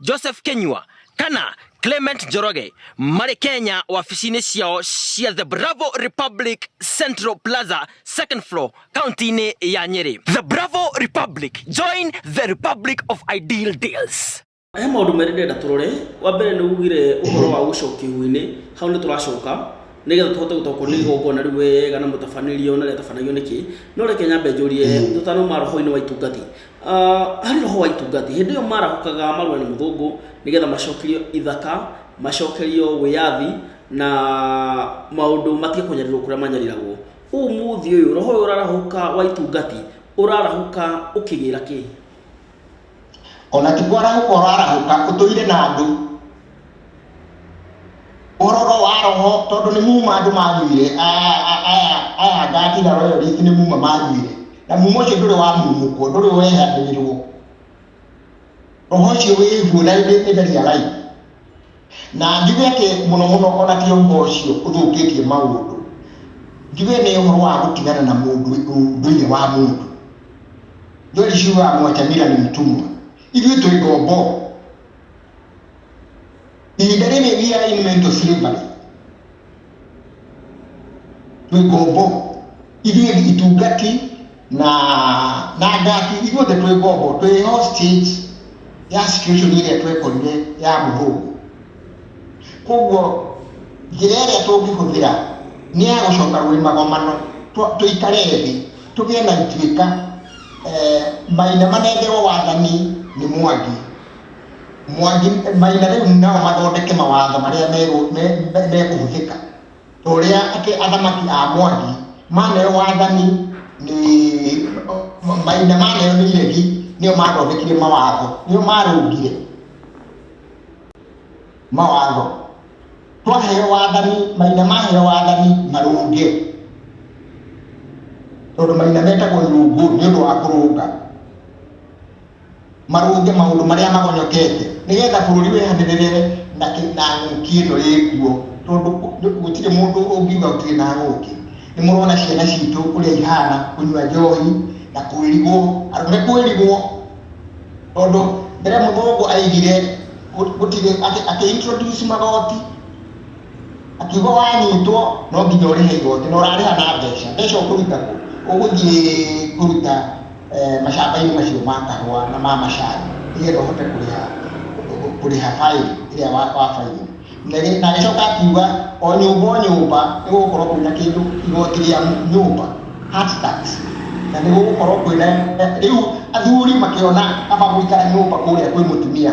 Joseph Kenyua kana Clement Njoroge marĩ Kenya wabici-inĩ ciao cia The Bravo Republic Central Plaza second floor kaunti-inĩ ya Nyeri. The Bravo Republic, join the Republic of Ideal Deals. He maũndũ merĩ ndĩrenda tũrore, wa mbere nĩ ugire ũhoro wa gũcokia ihu-inĩ, hau nĩ tũracoka nĩgetha tũhote gũtaũkwo nĩ igongona rĩu wega na mũtabanĩrio na rĩatabanagio nĩkĩ, no reke nyambe njũrie tũtanauma roho-inĩ wa itungathi, Ah, harĩ roho wa itungati hĩndĩ ĩyo marahũkaga marũa nĩ mũthũngũ nĩgetha macokerio ithaka macokerio wĩyathi na maũndũ matige kũnyarirwo kũrĩa manyariragwo ũmũthĩ ũyũ roho ũyũ ũrarahũka wa itungati ũrarahũka ũkĩgĩra kĩ ona ti kwarahũka ũrarahũka ũtũire na andũ Ũroro wa roho tondũ nĩ muma andũ manjuire aya ngatira royo rĩngĩ nĩ muma manjuire na muma ũcio ndũrĩ wa mumũkwo ndũrĩ wehanĩrĩrwo roho ũcio wĩguo na nĩ very alive na njuge atĩ mũno mũno ona ti ũhoro ũcio ũthũkĩtie maũndũ njuge nĩ ũhoro wa gũtigana na mũndũ ũndũire wa mũndũ njori ciugaga mwachamira nĩ mtumwa ithuĩ twĩ ngombo ihinda rĩrĩ we are in mental slavery twĩ ngombo ithuĩ itungati na na ngati ithuothe twĩ ngombo twĩ hostage ya situation ĩrĩa twekorire ya mũthũngũ koguo njĩra ĩrĩa tũngĩhũthĩra nĩ ya gũcoka gwĩ magomano tũ- tũikare thĩ tũgĩe na ituĩka eh, maina manengerwo wathani nĩ mwangi Mwangi Mai na rĩu nao mathondeke mawatho marĩa mekũhũthĩka ta ũrĩa athamaki a Mwangi maneo wathani nĩ Mai na maneo nĩ iregi nĩo mathondekire mawatho nĩo marũngire mawatho twaheo wathani Mai na maheo wathani marũnge tondũ Mai na metagwo nyũngũ nĩ ũndũ wa kũrũnga marũnge maũndũ marĩa magonyokete nĩgetha bũrũri wehanĩrĩre na kĩ- na ng'ũki ĩno ĩkuo tondũ kũ- nĩ- gũtirĩ mũndũ ũngiuga gũtirĩ na ng'ũki nĩ mũrona ciana citũ ũrĩa ihana kũnyua njohi na kwĩrigwo andũ nĩ kwĩrigwo tondũ mbere mũthũngũ aigire gũ- gũtirĩ akĩ- akĩ introduce magoti Akiuga wanyitwo no nginya ũrĩhe igoti na ũrarĩha na mbeca. Mbeca ũkũruta kũ? Ũgũthiĩ kũruta mashamba-inĩ macio ma kahũa na ma macani nĩ getha ũhote kũrĩha kũrĩha baĩni ĩrĩa wabaire. Na agĩcoka akiuga o nyũmba o nyũmba nĩ gũgũkorwo kwĩna kĩndũ igoti rĩa nyũmba, heart tax, na nĩ gũgũkorwo kwĩna, rĩu athuri makĩona kaba gũikara nyũmba kũrĩa kwĩ mũtumia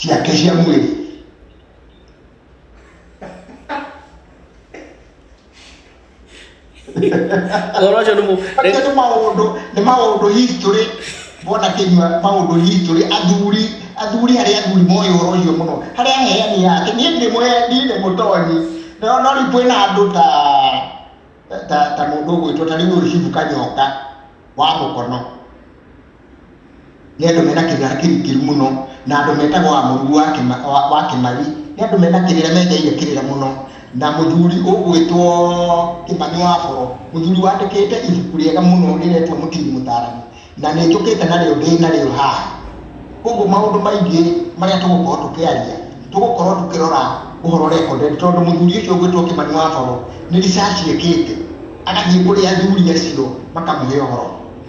ciake cia mwĩrĩ ũhoro ũcio nĩ mũ- acio nĩ maũndũ nĩ maũndũ history wona kĩnyua maũndũ history athuri athuri arĩa athuri moĩ ũhoro ũcio mũno harĩa aheani yake niĩ ndĩ mũheani nĩ mũtonyi no no rĩu kwĩna andũ ta ta ta mũndũ ũgwĩtwo ta rĩu ũyũ cibu kanyoka wa mũkono Nĩ andũ mena kĩgera kĩrikĩru mũno, na andũ metagwo a mũrugu wa kĩma, wa, wa kĩmari. Nĩ andũ mena kĩrĩra menjeire kĩrĩra mũno. Na mũthuri ũgwĩtwo Kĩmani wa Boro, mũthuri wandĩkĩte ibuku rĩega mũno rĩretwo Mũtini Mũtaarani, na nĩ njũkĩte narĩo ndĩ narĩo haha. Ũguo maũndũ maingĩ marĩa tũgũkorwo tũkĩaria, tũgũkorwo tũkĩrora ũhoro recorded, tondũ mũthuri ũcio ũgwĩtwo Kĩmani wa Boro, nĩ research ekĩte, agathiĩ kũrĩ athuri acio makamũhe ũhoro.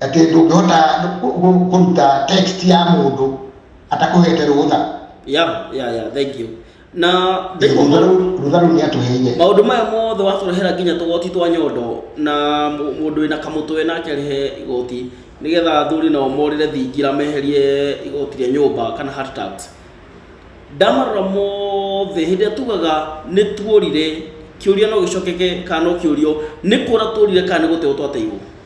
atĩ ndũngĩhota kũruta text ya mũndũ atakũhete rũtha ya ya ya thank you na rũtha rũu nĩ atũheire maũndũ maya mothe watũrehera nginya tũgoti twa nyondo na mũndũ wĩna kamũtwe nake arĩhe igoti nĩgetha athuri nao morĩre thingira meherie igoti rĩa nyũmba kana heart tax ndamarora mothe hĩndĩ ĩrĩa tugaga nĩ tuorire kĩũria no gĩcokeke kana no kĩũrio nĩ kũra tuorire kana nĩ gũtewo twateirwo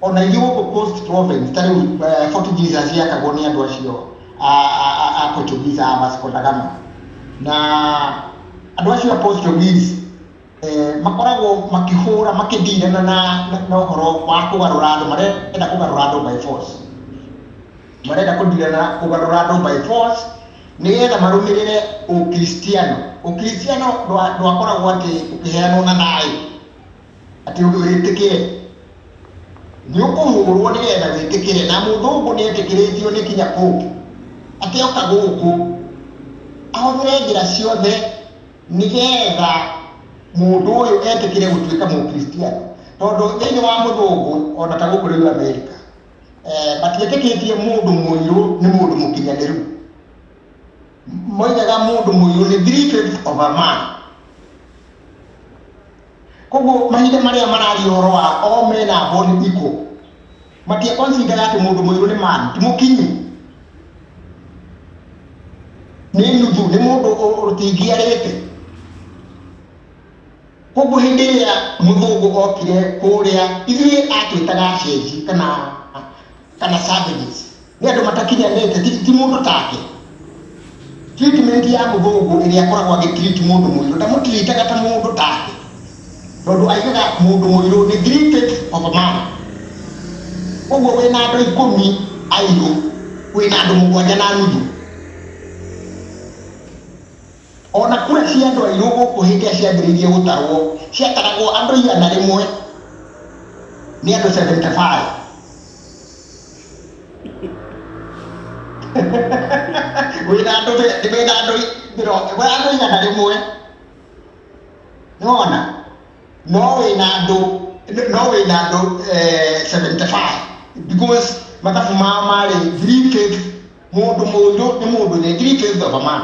o na ithuĩ gũkũ coast province ta rĩu eh, Fort Jesus yakagwo nĩ andũ acio a- a- a- a Portuguese a Vasco da Gama na andũ acio a Portuguese eh, makoragwo makĩhũra makĩndirana na na- na ũhoro wa kũgarũra andũ marenda kũgarũra andũ by force marenda kũndirana kũgarũra andũ by force nĩgetha marũmĩrĩre ũkristiano ũkristiano ndwa- ndwakoragwo atĩ ũkĩheanwo na thayũ Atĩ ũndũ wĩtĩkĩre nĩ ũkũhũrwo nĩgetha wĩtĩkĩre, na mũthũngũ nĩ etĩkĩrĩtio nĩ kinya Pope atĩ oka gũkũ ahũthĩre njĩra ciothe nĩgetha mũndũ ũyũ etĩkĩre gũtuĩka mũkristiano, tondũ thĩinĩ wa mũthũngũ ona ta gũkũ rĩu Amerika eh, matietĩkĩtie mũndũ mũirũ nĩ mũndũ mũkinyanĩru, moigaga mũndũ mũirũ nĩ three fifths of a man. koguo mahinda marĩa mararia ũhoro wa o mena mboni ikũ matiakonsidera atĩ mũndũ mũirũ nĩ mani ti mũkinyi nĩ nuthu nĩ mũndũ ũtingiarĩte koguo hĩndĩ ĩrĩa mũthũngũ okire kũrĩa ithuĩ atwĩtaga acenji kana kana savages nĩ andũ matakinyanĩte ti, ti mũndũ take treatment ya mũthũngũ ĩrĩa akoragwo agĩtreat mũndũ mũirũ ndamũtiritaga ta mũndũ take tondũ aigaga mũndũ mũirũ nĩ treated of a man ũguo wĩ na andũ ikũmi airũ wĩ na andũ mũgwanja na nuthu O na kura cia andũ airũ gũkũ hĩndĩ ĩrĩa ciambĩrĩirie gũtarwo, ciataragwo andũ igana rĩmwe nĩ andũ 75. Wĩ na andũ mĩ- wĩ na andũ i- mĩrongo- wĩ andũ igana rĩmwe. Nĩwona? No wĩ na andũ no wĩ na andũ eh, 75 because mathabu mao marĩ three fifths Mũndũ mũũgĩ nĩ mũndũ ũrĩa Greek is of a man.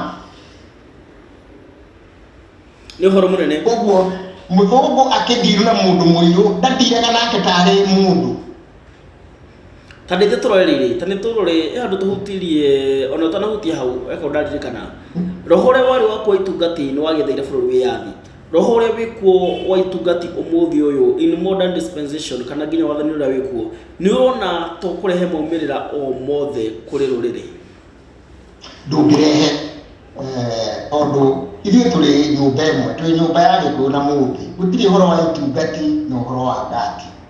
Nĩ ũhoro mũnene. Ũguo mũthũngũ akĩndiru na mũndũ mũirũ ndatiraga nake tarĩ mũndũ. Ta nĩ tũrore rĩrĩ, ta nĩ tũrore eh, andũ tũhutirie ona ũtanahutia hau eko ndaririkana roho ũrĩa warĩ wa kwa itunga tĩ nĩ wagĩthaire bũrũri wĩyathi Roho ũrĩa wĩ kuo wa itungati ũmũthĩ ũyũ in modern dispensation kana nginya wathani ũrĩa wĩ kuo nĩ ũrona to kũrehe maumĩrĩra o mothe kũrĩ rũrĩrĩ ndũngĩrehe eh, tondũ ithuĩ tũrĩ nyũmba ĩmwe twĩ nyũmba ya gĩkũyũ na mũthĩ gũtirĩ ũhoro wa itungati na ũhoro wa ngati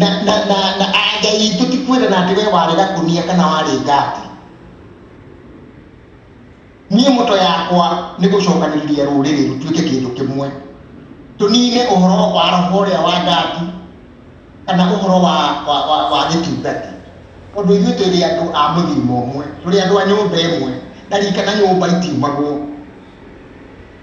na na na na anja itũ ti kwĩra na atĩ we warĩ gakunia kana warĩ ngati niĩ moto yakwa nĩ gũcokanĩrĩria rũrĩrĩ rũtuĩke kĩndũ kĩmwe tũnine ũhoro wa roho ũrĩa wa ngati kana ũhoro wa wa wa, wa gĩtungati tondũ ithuĩ tũrĩ andũ a mũthirima ũmwe tũrĩ andũ a nyũmba ĩmwe ndarikana nyũmba itiumagwo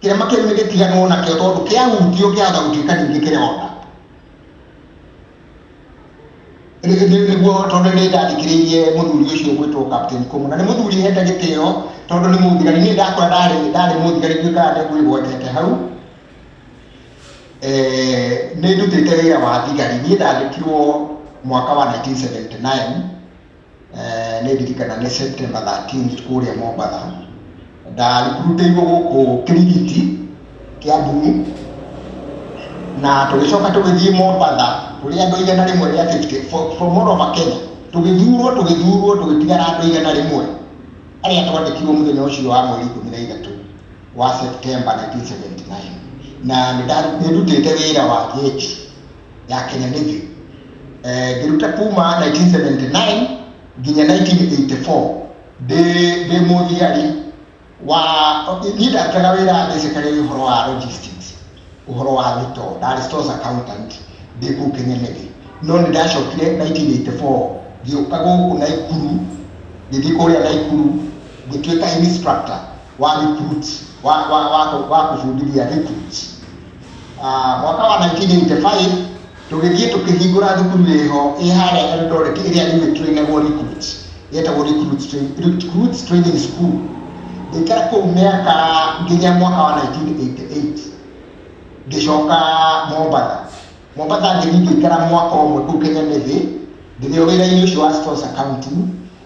Kĩrĩma kĩu nĩ gĩtiganwo nakĩo tondũ kĩahutio kĩahota gũtuĩka ningĩ kĩronda. nĩguo tondũ nĩ ndathikĩrĩirie mũthuri ũcio gwĩtwo Captain Kũmũ na nĩ mũthuri hete gĩtĩo tondũ nĩ mũthigari niĩ ndakũra ndarĩ ndarĩ mũthigari nduĩkaga nĩ ngwĩgwatĩte hau eh, nĩ ndutĩte wĩra wa thigari niĩ ndandĩkirwo mwaka wa 1979 Nĩ ndirikanaga nĩ September 13th kũrĩa Mombatha, ndarikruteirwo gũkũ Kirigiti, Kiambu-inĩ, na tũgĩcoka tũgĩthiĩ Mombatha tũrĩ andũ igana rĩmwe rĩa 50 from all over Kenya, tũgĩthurwo tũgĩthurwo tũgĩtigara andũ igana rĩmwe arĩa twandĩkirwo mũthenya ũcio wa mweri ikũmi na ithatũ wa September 1979 na nĩndutĩte wĩra wa jeshi. ya Kenya Navy eh, ngĩruta kuma 1979 nginya 1984 ndĩ ndĩ mũthiari wa niĩ ndarutaga wĩra ndecekaga ũhoro wa logistics ũhoro wa thito ndarĩ stores accountant ndĩ kũu Kenya Navy no nĩ ndacokire 1984 ngĩũka gũkũ Naikuru ngĩthiĩ kũrĩa Naikuru ngĩtuĩka instructor wa recruit wa wa wa, wa kũbundithia recruit Ah, mwaka wa 1985 tũgĩthiĩ tũkĩhingũra thukuru ĩho ĩ harĩa Eldoret ĩrĩa rĩu ĩtwĩgagwo recruit yetagwo recruit Train- recruit training school ngĩikara kũu mĩaka nginya mwaka wa 1988 ngĩcoka mombatha mombatha ngĩthiĩ ngĩikara mwaka ũmwe kũu kenya nĩthĩ ngĩthĩo wĩra-inĩ ũcio wa stores accounting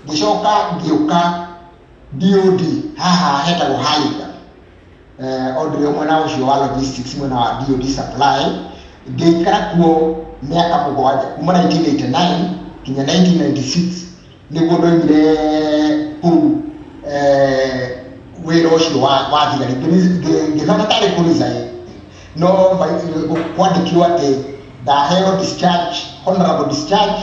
ngĩcoka ngĩũka DOD haha hetagwo Haiga eh, o ndire mwena ucio wa logistics mwena wa DOD supply ngĩikara kuo mĩaka mũgwanja kuma 1989 kinya 1996 nĩguo ndoimire kũu eh, wĩra ũcio wa wa thigari ngĩthana tarĩ kũriza no kwandĩkirwo atĩ ndaheo discharge honorable discharge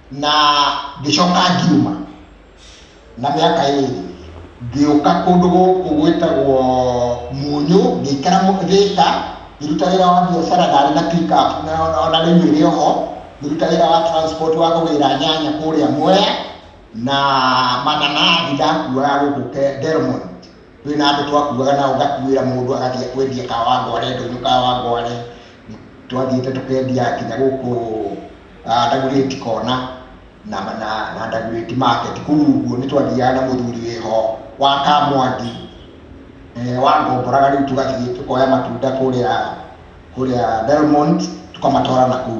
na ngĩcoka ngiuma na mĩaka ĩrĩ ngĩũka kũndũ gũkũ gwĩtagwo Munyũ ngĩikara Thĩka ngĩruta wĩra wa biacara ndarĩ na pick up ona rĩu ĩrĩ oho ngĩruta wĩra wa transport wa kũgĩra nyanya kũrĩa Mwea na mananathi ndakuaga gũkũ Delmont Twĩ na andũ twakuaga nao ngakuĩra mũndũ agathiĩ kwendia Kawangware, Ndũnyũ Kawangware, twathiĩte tũkendia nginya gũkũ ah, Ndagurĩti kona na, na, na Ndagurĩti market kũu ũguo nĩ twathiaga na mũthuri wĩho wa Kamwangi eh, wangomboraga rĩu tũgathiĩ tũkoya matunda kũrĩa kũrĩa Belmont tũkamatwara na kũu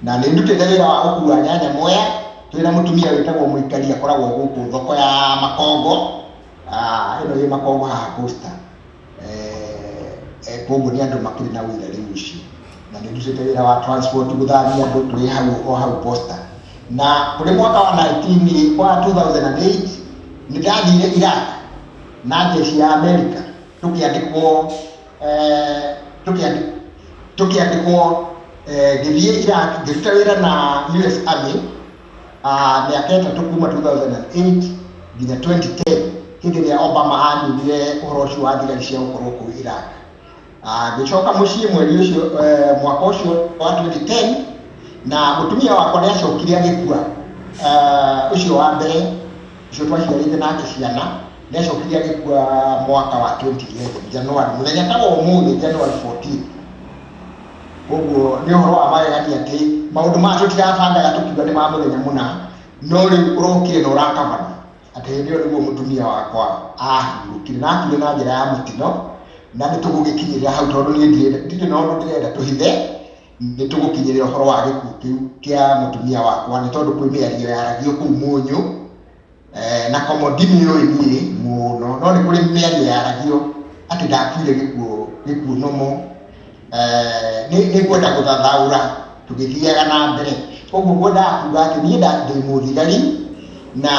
na nĩ ndutĩte wĩra wa gũkua nyanya Mwea twĩ na mũtumia wĩtagwo Mũikari akoragwo gũkũ thoko ya Makongo Ah, ĩno yĩ makoma haha posta eh, eh, koguo nĩ andũ makĩrĩ na wĩra rĩu ũcio na nĩ ndutĩte wĩra wa transport gũthambia andũ twĩ hau o hau posta na kũrĩ mwaka wa 19 wa 2008 nĩ ndathire Iraq na jeshi ya Amerika tũkĩandĩkwo eh, tũkĩandĩ- tũkĩandĩkwo eh, ngĩthiĩ Iraq ngĩruta wĩra na US Army Ah, mĩaka ĩtatũ kuma 2008 nginya 2010 hĩndĩ ĩrĩa obama aninire ũhoro ũcio wa thigari cia gũkorwo kũu iraq Ah, ngĩcoka mũciĩ mweri ũcio eh, mwaka ũcio wa 2010 na mũtumia wakwa nĩ acokire agĩkua Ah, ũcio wa mbere ũcio twaciarĩte nake ciana nĩ acokire agĩkua mwaka wa 2011 januari mũthenya ta wa ũmũthĩ januari 14 Ũguo nĩ ũhoro wa magegania atĩ maũndũ maya tũtirabangaga tũkiuga nĩ ma mũthenya mũna, no rĩu ũrokire na ũrakabana atĩ hĩndĩ ĩyo nĩguo mũtumia wakwa ahurũkire na akuire na njĩra ya mũtino, na nĩ tũgũgĩkinyĩrĩra hau tondũ niĩ ndirĩ na ũndũ ndĩrenda tũhithe, nĩ tũgũkinyĩrĩra ũhoro wa gĩkuũ kĩu kĩa mũtumia wakwa nĩ tondũ kwĩ mĩario yaragio kũu Mũnyũ Eh, na komo ndimĩũĩ niĩ mũno no nĩ kũrĩ mĩario yaragio atĩ ndakuire gĩkuũ gĩkuũ nomo eh, nĩ nĩ ngwenda gũthathaũra tũgĩthiaga na mbere koguo ngwendaga kuga atĩ niĩ nda- ndĩ mũthigari na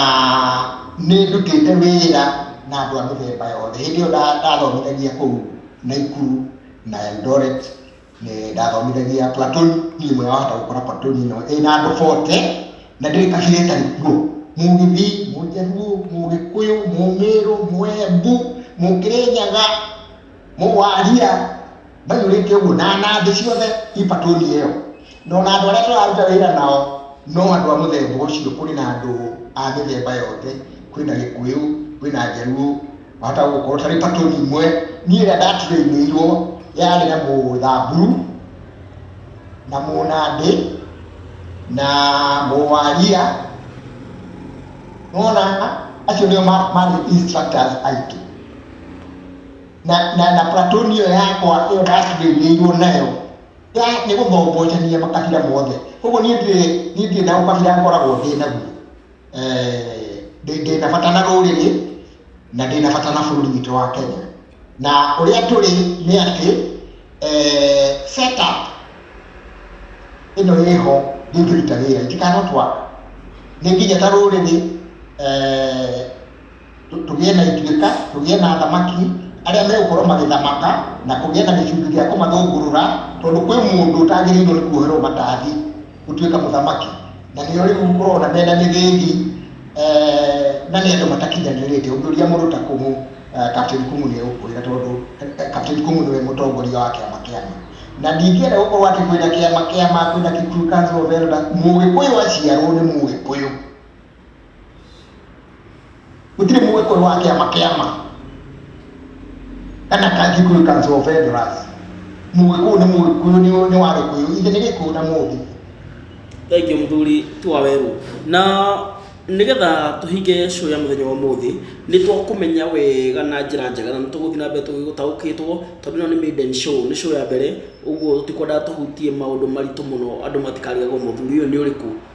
nĩ ndutĩte wĩra na andũ a mĩthemba yothe hĩndĩ ĩyo nda- ndathomithagia kũu naikuru na eldoret nĩ ndathomithagia platoni ĩmwe wahota gũkora platoni ĩno ĩna andũ bote na ndĩrĩ kabira ĩtarĩ kuo mũgĩthii mũjaruo mũgĩkũyũ mũmĩrũ mwembu mũkĩrĩnyaga mũwaria maiyũrĩte ũguo na nathĩ ciothe i platoni ĩyo no na andũ arĩa tũraruta wĩra nao no andũ a mũthemba ũcio kũrĩ na andũ a mĩthemba yothe kwĩna gĩkũyũ kwĩna njaruo wahota gũkorwo tarĩ patoni imwe niĩ ĩrĩa ndaturĩinĩirwo yarĩ na mũthamburu na mũnandĩ na mũwaria nona acio nĩo marĩ instructors aitũ na na na platoni ĩyo yakwa ĩyo ndaturĩinĩirwo nayo ya nĩ gũthombochania makabira mothe koguo niĩ ndirĩ niĩ ndirĩ na ũkabira ngoragwo ndĩ naguo eh, ndĩ na bata na rũrĩrĩ na ndĩ na bata na bũrũri witũ wa Kenya na ũrĩa tũrĩ nĩ atĩ eh, set up ĩno ĩho ndĩngĩruta wĩra itikanotwara nĩ nginya ta rũrĩrĩ eh, tũ- tũgĩe na ituĩka tũgĩe na athamaki arĩa megũkorwo magĩthamaka na kũgĩa na gĩcungi gĩa kũmathũngũrũra tondũ kwĩ mũndũ ũtagĩrĩirwo nĩ kuoherwo matathi gũtuĩka mũthamaki na nĩo rĩu ũrona mena mĩthĩgi eh, na nĩ andũ matakinyanĩrĩte ũngĩũria mũndũ ta kũmũ eh, Captain Kũmũ nĩ egũkwĩra tondũ eh, eh, Captain Kũmũ nĩwe mũtongoria wa kĩama kĩama na ndingĩenda gũkorwo atĩ kwĩna kĩama kĩama kwĩna Kikuyu Council of Elders mũgĩkũyũ aciarwo nĩ mũgĩkũyũ gũtirĩ mũĩ kũrĩ wa kĩama kĩama kana ka Kikuyu Council of Elders mũgĩkũyũ nĩ mũgĩkũyũ nĩ nĩ wa gĩkũyũ ithe nĩ gĩkũyũ na mũthĩ thengiũ mũthuri twa werũ na nĩgetha tũhinge show ya mũthenya wa ũmũthĩ nĩ twakũmenya wega na njĩra njega na nĩ tũgũthiĩ na mbere tũgĩgũtaũkĩtwo tondũ ĩno nĩ maiden show nĩ show ya mbere ũguo tũtikwendaga tũhutie maũndũ maritũ mũno andũ matikarigagwo mũthuri ũyũ nĩ ũrĩkũ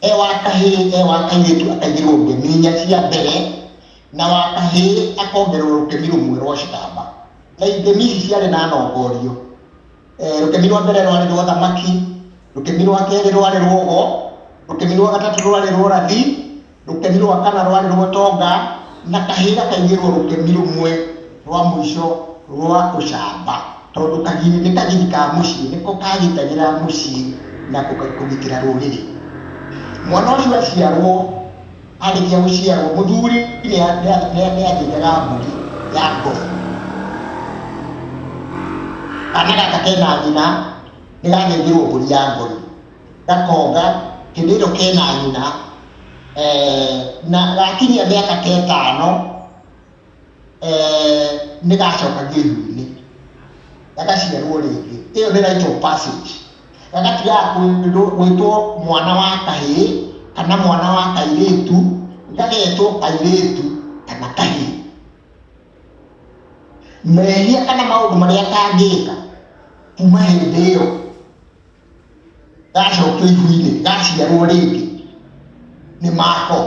e wa kahĩĩ e wa kairĩtu akaigĩrwo ngemi inya cia mbere na wa kahĩĩ akongerwo rũkemi rũmwe rwa citamba na ngemi ici ciarĩ na nongorio e, rũkemi rwa mbere rwarĩ rwa thamaki rũkemi rwa kerĩ rwarĩ rwogo rũkemi rwa gatatũ rwarĩ rwa rathi Rũkemi rwa kana rwarĩ rwa ũtonga na kahĩĩ gakaigĩrwo rũkemi rũmwe rwa mũico rwa ũcamba tondũ kagiri nĩ kagiri ka mũciĩ nĩko kagitagĩra mũciĩ na kũgitĩra rũrĩrĩ. Mwana ũcio aciarwo arĩkia gũciarwo mũthuri nĩ athĩnjaga mbũri ya ngothi. Kana gaka kena nyina nĩ gathĩnjĩrwo mbũri ya ngothi. gakonga kĩndũ ĩno kena nyina eh, na gakinyia mĩaka ta ĩtano eh, nĩ gacoka gĩthu-inĩ gagaciarwo rĩngĩ ĩyo nĩ right of passage gagatigaga gwĩtwo mwana wa kahĩ kana mwana wa kairĩtu gagetwo kairĩtu kana kahĩ mehia kana maũndũ marĩa kangĩka kuma hĩndĩ ĩyo gacokio ihu-inĩ gaciarwo rĩngĩ nĩ mako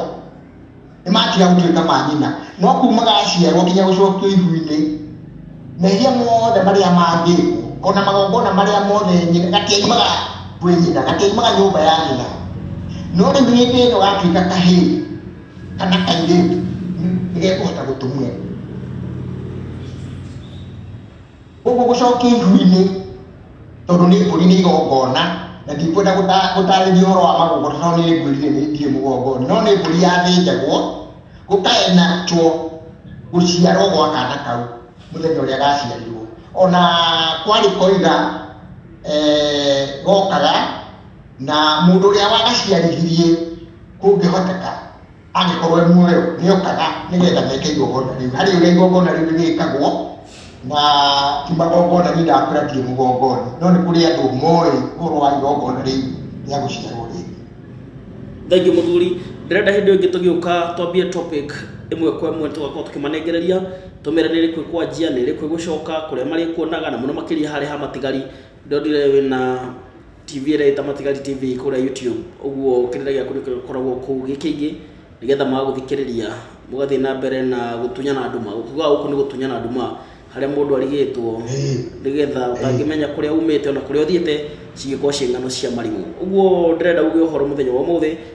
nĩ matiga gũtuĩka ma nyina no kuma gaciarwo nginya gũcokio ihu-inĩ mehia mothe marĩa mangĩkwo ona magongona marĩa mothe nyina gatiaimaga gwĩ nyina gatiaimaga nyũmba ya nyina no rĩu hĩndĩ ĩno gatuĩka kahĩĩ kana kairĩtu nĩ gekũhota gũtumwo Gũkũ gũcokia ihu-inĩ tondũ nĩ mbũri nĩ igongona na ndikwenda gũtarĩria ũhoro wa magongona tondũ nĩ ngwĩrire nĩ ndirĩ mũgongoni, no nĩ mbũri yathĩnjagwo gũkaenacwo gũciarwo gwa kana kau mũthenya ũrĩa gaciarirwo. Ona kwarĩ koiga gokaga na mũndũ ũrĩa wagaciarithirie kũngĩhoteka. angĩkorwo e muoyo nĩ okaga nĩgetha meke igongona rĩu harĩ ũrĩa igongona rĩu rĩgĩkagwo na ti magongona nĩ ndakũra ndirĩ mũgongoni no nĩ kũrĩ andũ moĩ ũhoro wa igongona rĩu rĩa gũciarwo rĩngĩ thengiũ mũthuri ndĩrenda hĩndĩ ĩngĩ tũgĩũka twambie topic ĩmwe kwa ĩmwe tũgakorwo tũkĩmanengereria tũmere nĩ rĩkũ kwanjia nĩ rĩkũ gũcoka kũrĩa marĩkuonaga na mũno makĩria harĩ ha matigari ndondire wĩna TV ĩrĩa ĩta Matigari TV kũrĩa YouTube ũguo kĩrĩa gĩaku nĩkoragwo kũu gĩkĩingĩ nĩgetha magũthikĩrĩria mũgathiĩ na mbere na gũtunyana nduma gũkiuga gũkũ nĩ gũtunyana nduma harĩa mũndũ arigĩtwo nĩgetha ũtangĩmenya kũrĩa umĩte ona kũrĩa ũthiĩte cingĩkorwo ciĩ ng'ano cia marigũ ũguo ndĩrenda uge ũhoro mũthenya wa ũmũthĩ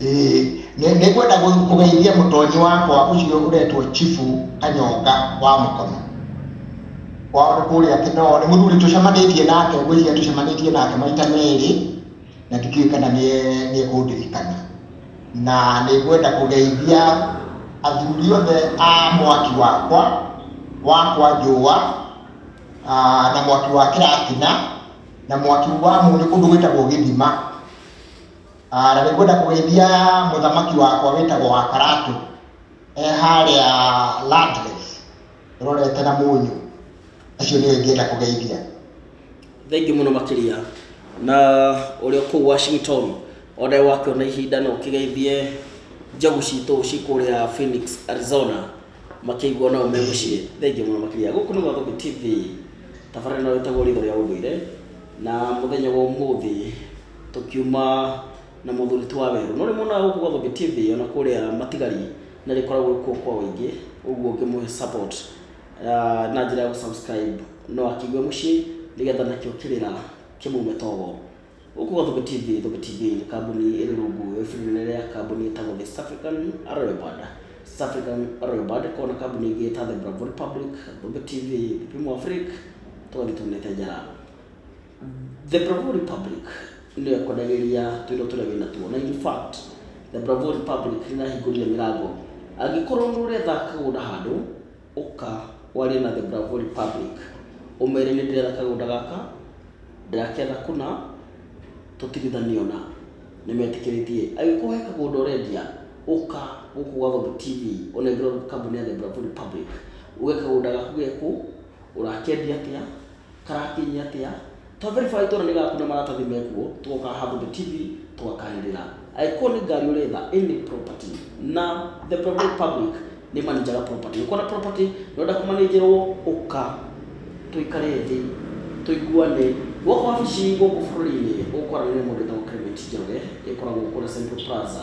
Ĩĩ, nĩ- nĩngwenda gũ- kũgeithia mũtonyi wakwa ũcio ũretwo chifu kanyonga wa mũkono kwao nĩ kũrĩa kĩnoo nĩ mũthuri tũcemanĩtie nake ngwĩciria tũcemanĩtie nake maita merĩ na ndikĩũĩ kana nĩe- nĩekũndirikana na nĩ ngwenda kũgeithia athuri othe a mwaki wakwa wakwa njũa ah, na mwaki wa kĩratina na mwaki wa mũnyũ kũndũ gwĩtagwo gĩthima Ah, na nĩngwenda kũgeithia mũthamaki wakwa wĩtagwo wa karatũ e harĩa Landless rorete na mũnyũ acio nĩwe ingĩenda kũgeithia thengiũ mũno makĩria na ũrĩa kũu washington onae wakĩona ihinda no ũkĩgeithie njagu citũ cikũrĩa phoenix arizona makĩigua nao me mũciĩ thengiũ mũno makĩria gũkũ nĩ gwathũkũ tv tabarĩra ĩno ĩtagwo ritho rĩa ũndũire na mũthenya wa ũmũthĩ Tũkiuma na mũthuri ti Waweru. No nĩmonaga gũkũ gwa Thũmbĩ TV ona kũrĩa Matigari nĩ rĩkoragwo kuo kwa ũingĩ, ũguo ũngĩmũhe support ah, na njĩra ya gũ subscribe no akĩigue mũciĩ nĩgetha nakĩo kĩrĩra kĩmume togo. Gũkũ gwa Thũmbĩ TV, Thũmbĩ TV nĩ kambuni ĩrĩ rungu rwa iburi inene rĩa kambuni ĩtagwo The East African Royal Band. East African Royal Band ĩkoragwo na kambuni ingĩ ta The Bravo Republic, Thũmbĩ TV, Vipimo Afrique, tũgathiĩ tuunĩte njara. The Bravo Republic nĩyo ĩkonagĩria twĩro tũrĩa wĩna tuo na in fact The Bravo Republic nĩrahingũrire mĩrango angĩkorwo nĩ ũretha kagũnda handũ ũka warie na The Bravo Republic ũmere nĩ ndĩretha kagũnda gaka ndĩraketha kũna tũtigithanio na nĩmetĩkĩrĩtie angĩkorwo he kagũnda ũrendia ũka gũkũ gwa Thombo TV ũnengerwo kambuni ya The Bravo Republic uge kagũnda gaku gekũ ũrakendia atĩa Karakinya atĩa? Twaberibara itũra nĩgakuna maratathi mekuo tũgoka handũ the TV tũgakaĩrĩra. Angĩkorwo nĩ ngari ũretha any property na the provided public nĩmanĩnjaga property. Ũngĩkorwo na property na ũrenda kũmanĩnjĩrwo ũka tũikare thĩ tũiguane. Gwakwa wabici gũkũ bũrũri-inĩ ũkwaranĩria na mũndũ wĩtagwo Clement Njoroge ĩkoragwo kũrĩa Central Plaza.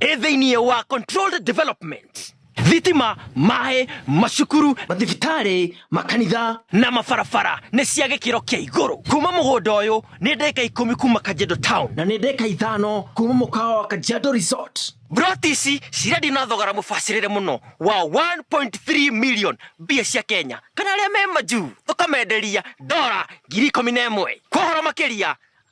ĩ thĩinĩ wa controlled development thitima maĩ macukuru mathibitarĩ makanitha na mabarabara nĩ cia gĩkĩro kĩa igũrũ kuma mũgũnda ũyũ nĩ ndĩka ikũmi kuma kanjendo town na nĩ ndĩka ithano kuma mũkawa wa kanjendo resort broti ici cirendio na thogora mũbacĩrĩre mũno wa 1.3 million mbia cia kenya kana arĩa me majuu tũkamenderia dora ngiri ikũmi na ĩmwe kwa ũhoro makĩria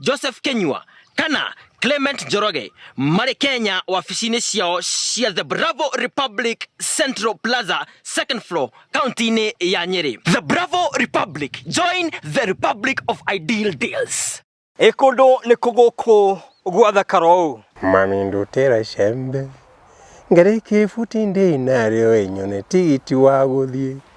Joseph Kenyua kana Clement Njoroge marĩ Kenya wabici-inĩ ciao cia The Bravo Republic Central Plaza second floor kaunti-inĩ ya Nyeri. The Bravo Republic, join the Republic of Ideal Deals. Ĩ kũndũ nĩ kũgũkũ gwathakara ũũ. Mami ndutĩra icembe ngarĩkie ibuti ndĩ narĩo ĩnyone tigiti wa gũthiĩ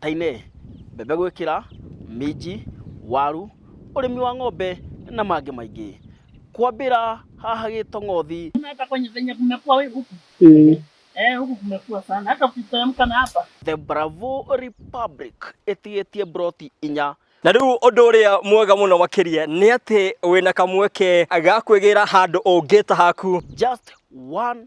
Tainĩ, mbembe gwĩkĩra, minji, waru, ũrĩmi wa ng'ombe na mangĩ maingĩ. Kwambĩra haha Gĩtong'othi. The Bravo Republic ĩtigĩtie mburoti inya. Na rĩu ũndũ ũrĩa mwega mũno makĩria nĩ atĩ wĩna kamweke ga kwĩgĩra handũ ũngĩta haku. Just one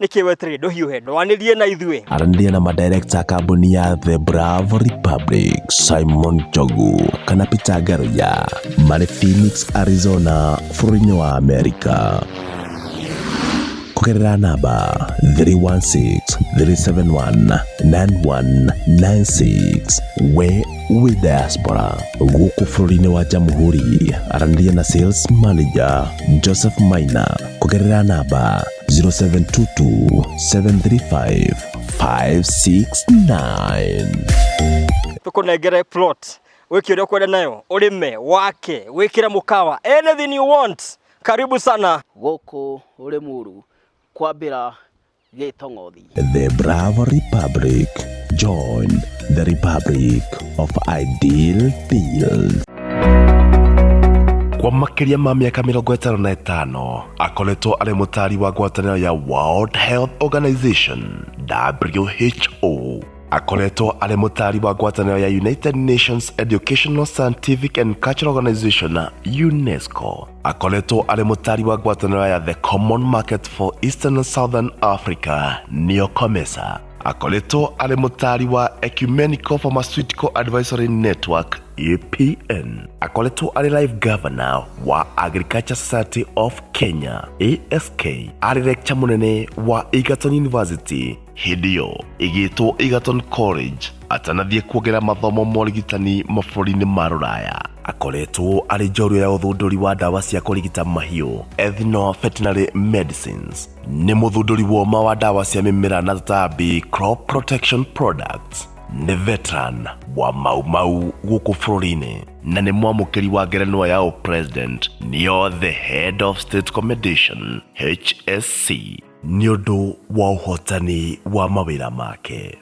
nĩkĩ weterire ndũhiũhe ndwanĩrie na ithuĩ aranĩria na madirekta a kambuni ya the bravo republic simon jogu kana peter garoya marĩ phoenix arizona bũrũri-inĩ wa amerika kũgerera namba 316-371-9196 we wĩ diaspora gũkũ bũrũri-inĩ wa jamhuri aranĩria na sales manager joseph maina kũgerera namba 0722 735 569 tũkũnengere plot wĩke ũrĩa ũkwenda nayo ũrĩme wake wĩkĩre mũkawa anything you want karibu sana gũkũ Rĩmuru kwambĩra gĩtong'othi. The Bravo Republic. Join the Republic of Ideal Fields. kwa makĩria ma mĩaka mĩrongo ĩtano na ĩtano akoretwo arĩ mũtaari wa ngwatanĩro ya world health organization who akoretwo arĩ mũtaari wa ngwatanĩro ya united nations educational scientific and cultural organization unesco akoretwo arĩ mũtari wa ngwatanĩro ya the common market for eastern and southern africa nĩyo comesa akoretwo arĩ mũtari wa ecumenical pharmaceutical advisory network apn akoretwo arĩ live governor wa agriculture society of kenya ask arĩ lecture mũnene wa egerton university hĩndĩ ĩyo ĩgĩtwo Egerton College atanathiĩ kuongerera mathomo ma ũrigitani mabũrũri-inĩ ma rũraya akoretwo arĩ njorua ya ũthundũri wa ndawa cia kũrigita mahiũ ethno veterinary medicines nĩ mũthundũri woma wa ndawa cia mĩmera na tũtambi crop protection products nĩ veteran wa maumau gũkũ bũrũri-inĩ na nĩ mwamũkĩri wa ngerenwa ya ũpresident nĩyo the head of state commendation hsc nĩ ũndũ wa ũhotani wa mawĩra make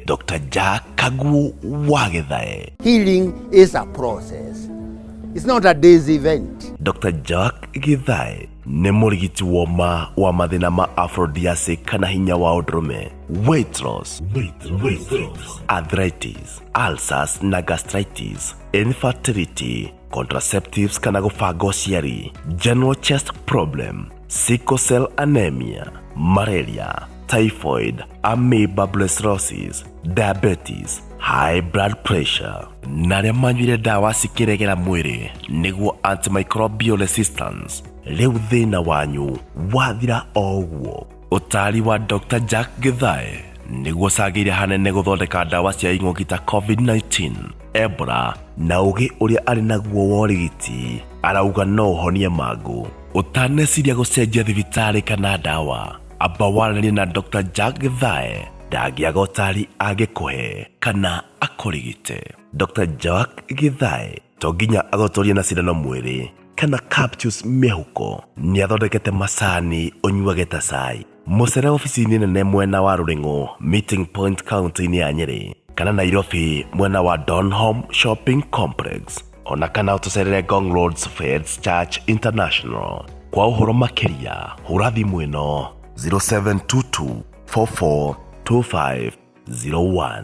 Dr. Jack Kaguo Wagethae Healing is a process. It's not a day's event. Dr. Jack Githae nĩ mũrigiti woma wa mathĩna ma aphrodisiac kana hinya wa ũndũrũme weight loss, arthritis, ulcers na gastritis, infertility contraceptives kana gũbanga ũciari general chest problem sickle cell anemia malaria typhoid amoeba brucellosis diabetes high blood pressure na arĩa manyuire ndawa cikĩregera mwĩrĩ nĩguo antimicrobial resistance rĩu thĩna wanyu wathira o ũguo ũtaari wa dr jack gĩthae nĩguo ũcangĩire hanene gũthondeka ndawa cia ing'ũki ta covid-19 ebola na ũgĩ ũrĩa arĩ naguo wa ũrigiti arauga no ũhonie mangũ ũtaneciria gũcenjia thibitarĩ kana ndawa amba waranĩrie na dr jack gĩthae ndangĩaga ũtaari angĩkũhe kana akũrigite dr jack gĩthae to nginya agotorie na cindano mwĩrĩ kana capsules mĩhuko nĩ athondekete macani ũnyuage ta cai mũcere ofici-inĩ nene mwena wa rũrĩng'ũ meeting point county-inĩ ya nyĩrĩ kana nairobi mwena wa donholm shopping complex ona kana ũtũcerere gong roads feds church international kwa ũhoro makĩria hũra thimũ ĩno 0722 442501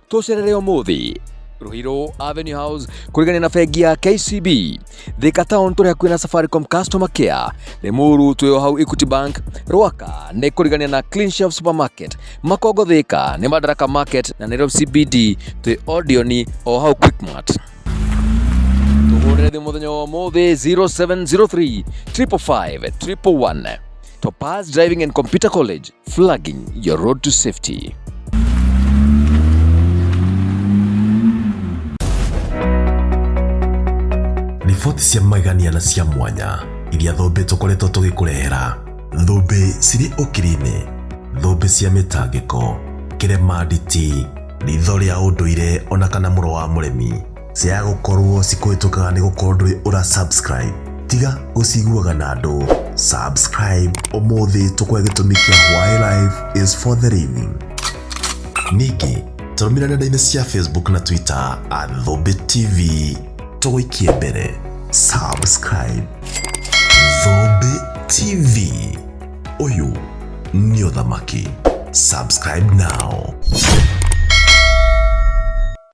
tũcerere ũmũthĩ Ruhiro Avenue House kurigania na bengi ya KCB Thika Town tũrĩa kwĩna Safaricom Customer Care Limuru twĩo hau Equity Bank Rwaka nĩ kurigania na Clean Shelf Supermarket Makongo Thika nĩ Madaraka Market na Nairobi CBD twĩ Odioni o hau Quickmart tũhũrĩre thimũ mũthenya wa ũmũthĩ 0703 355 311 Topaz Driving and Computer College, flagging your road to safety. Riboti cia magegania na cia mwanya iria thũmbĩ tũkoretwo tũgĩkũrehera. Thũmbĩ cirĩ ũkiri-inĩ, thũmbĩ cia mĩtangĩko, kĩremanditi, ritho rĩa ũndũire ona kana mũro wa mũremi. Ciaga gũkorwo cikũhĩtũkaga nĩ gũkorwo ndũrĩ ũra subscribe. Tiga gũciguaga na andũ. Subscribe ũmũthĩ tũkwe gĩtũmi kĩa why life is for the living. Ningĩ tũrũmĩrĩra nenda-inĩ cia Facebook na Twitter at Thũmbĩ TV. Tũgũikie mbere. Subscribe. Thũmbĩ TV. Ũyũ nĩ ũthamaki. Subscribe now.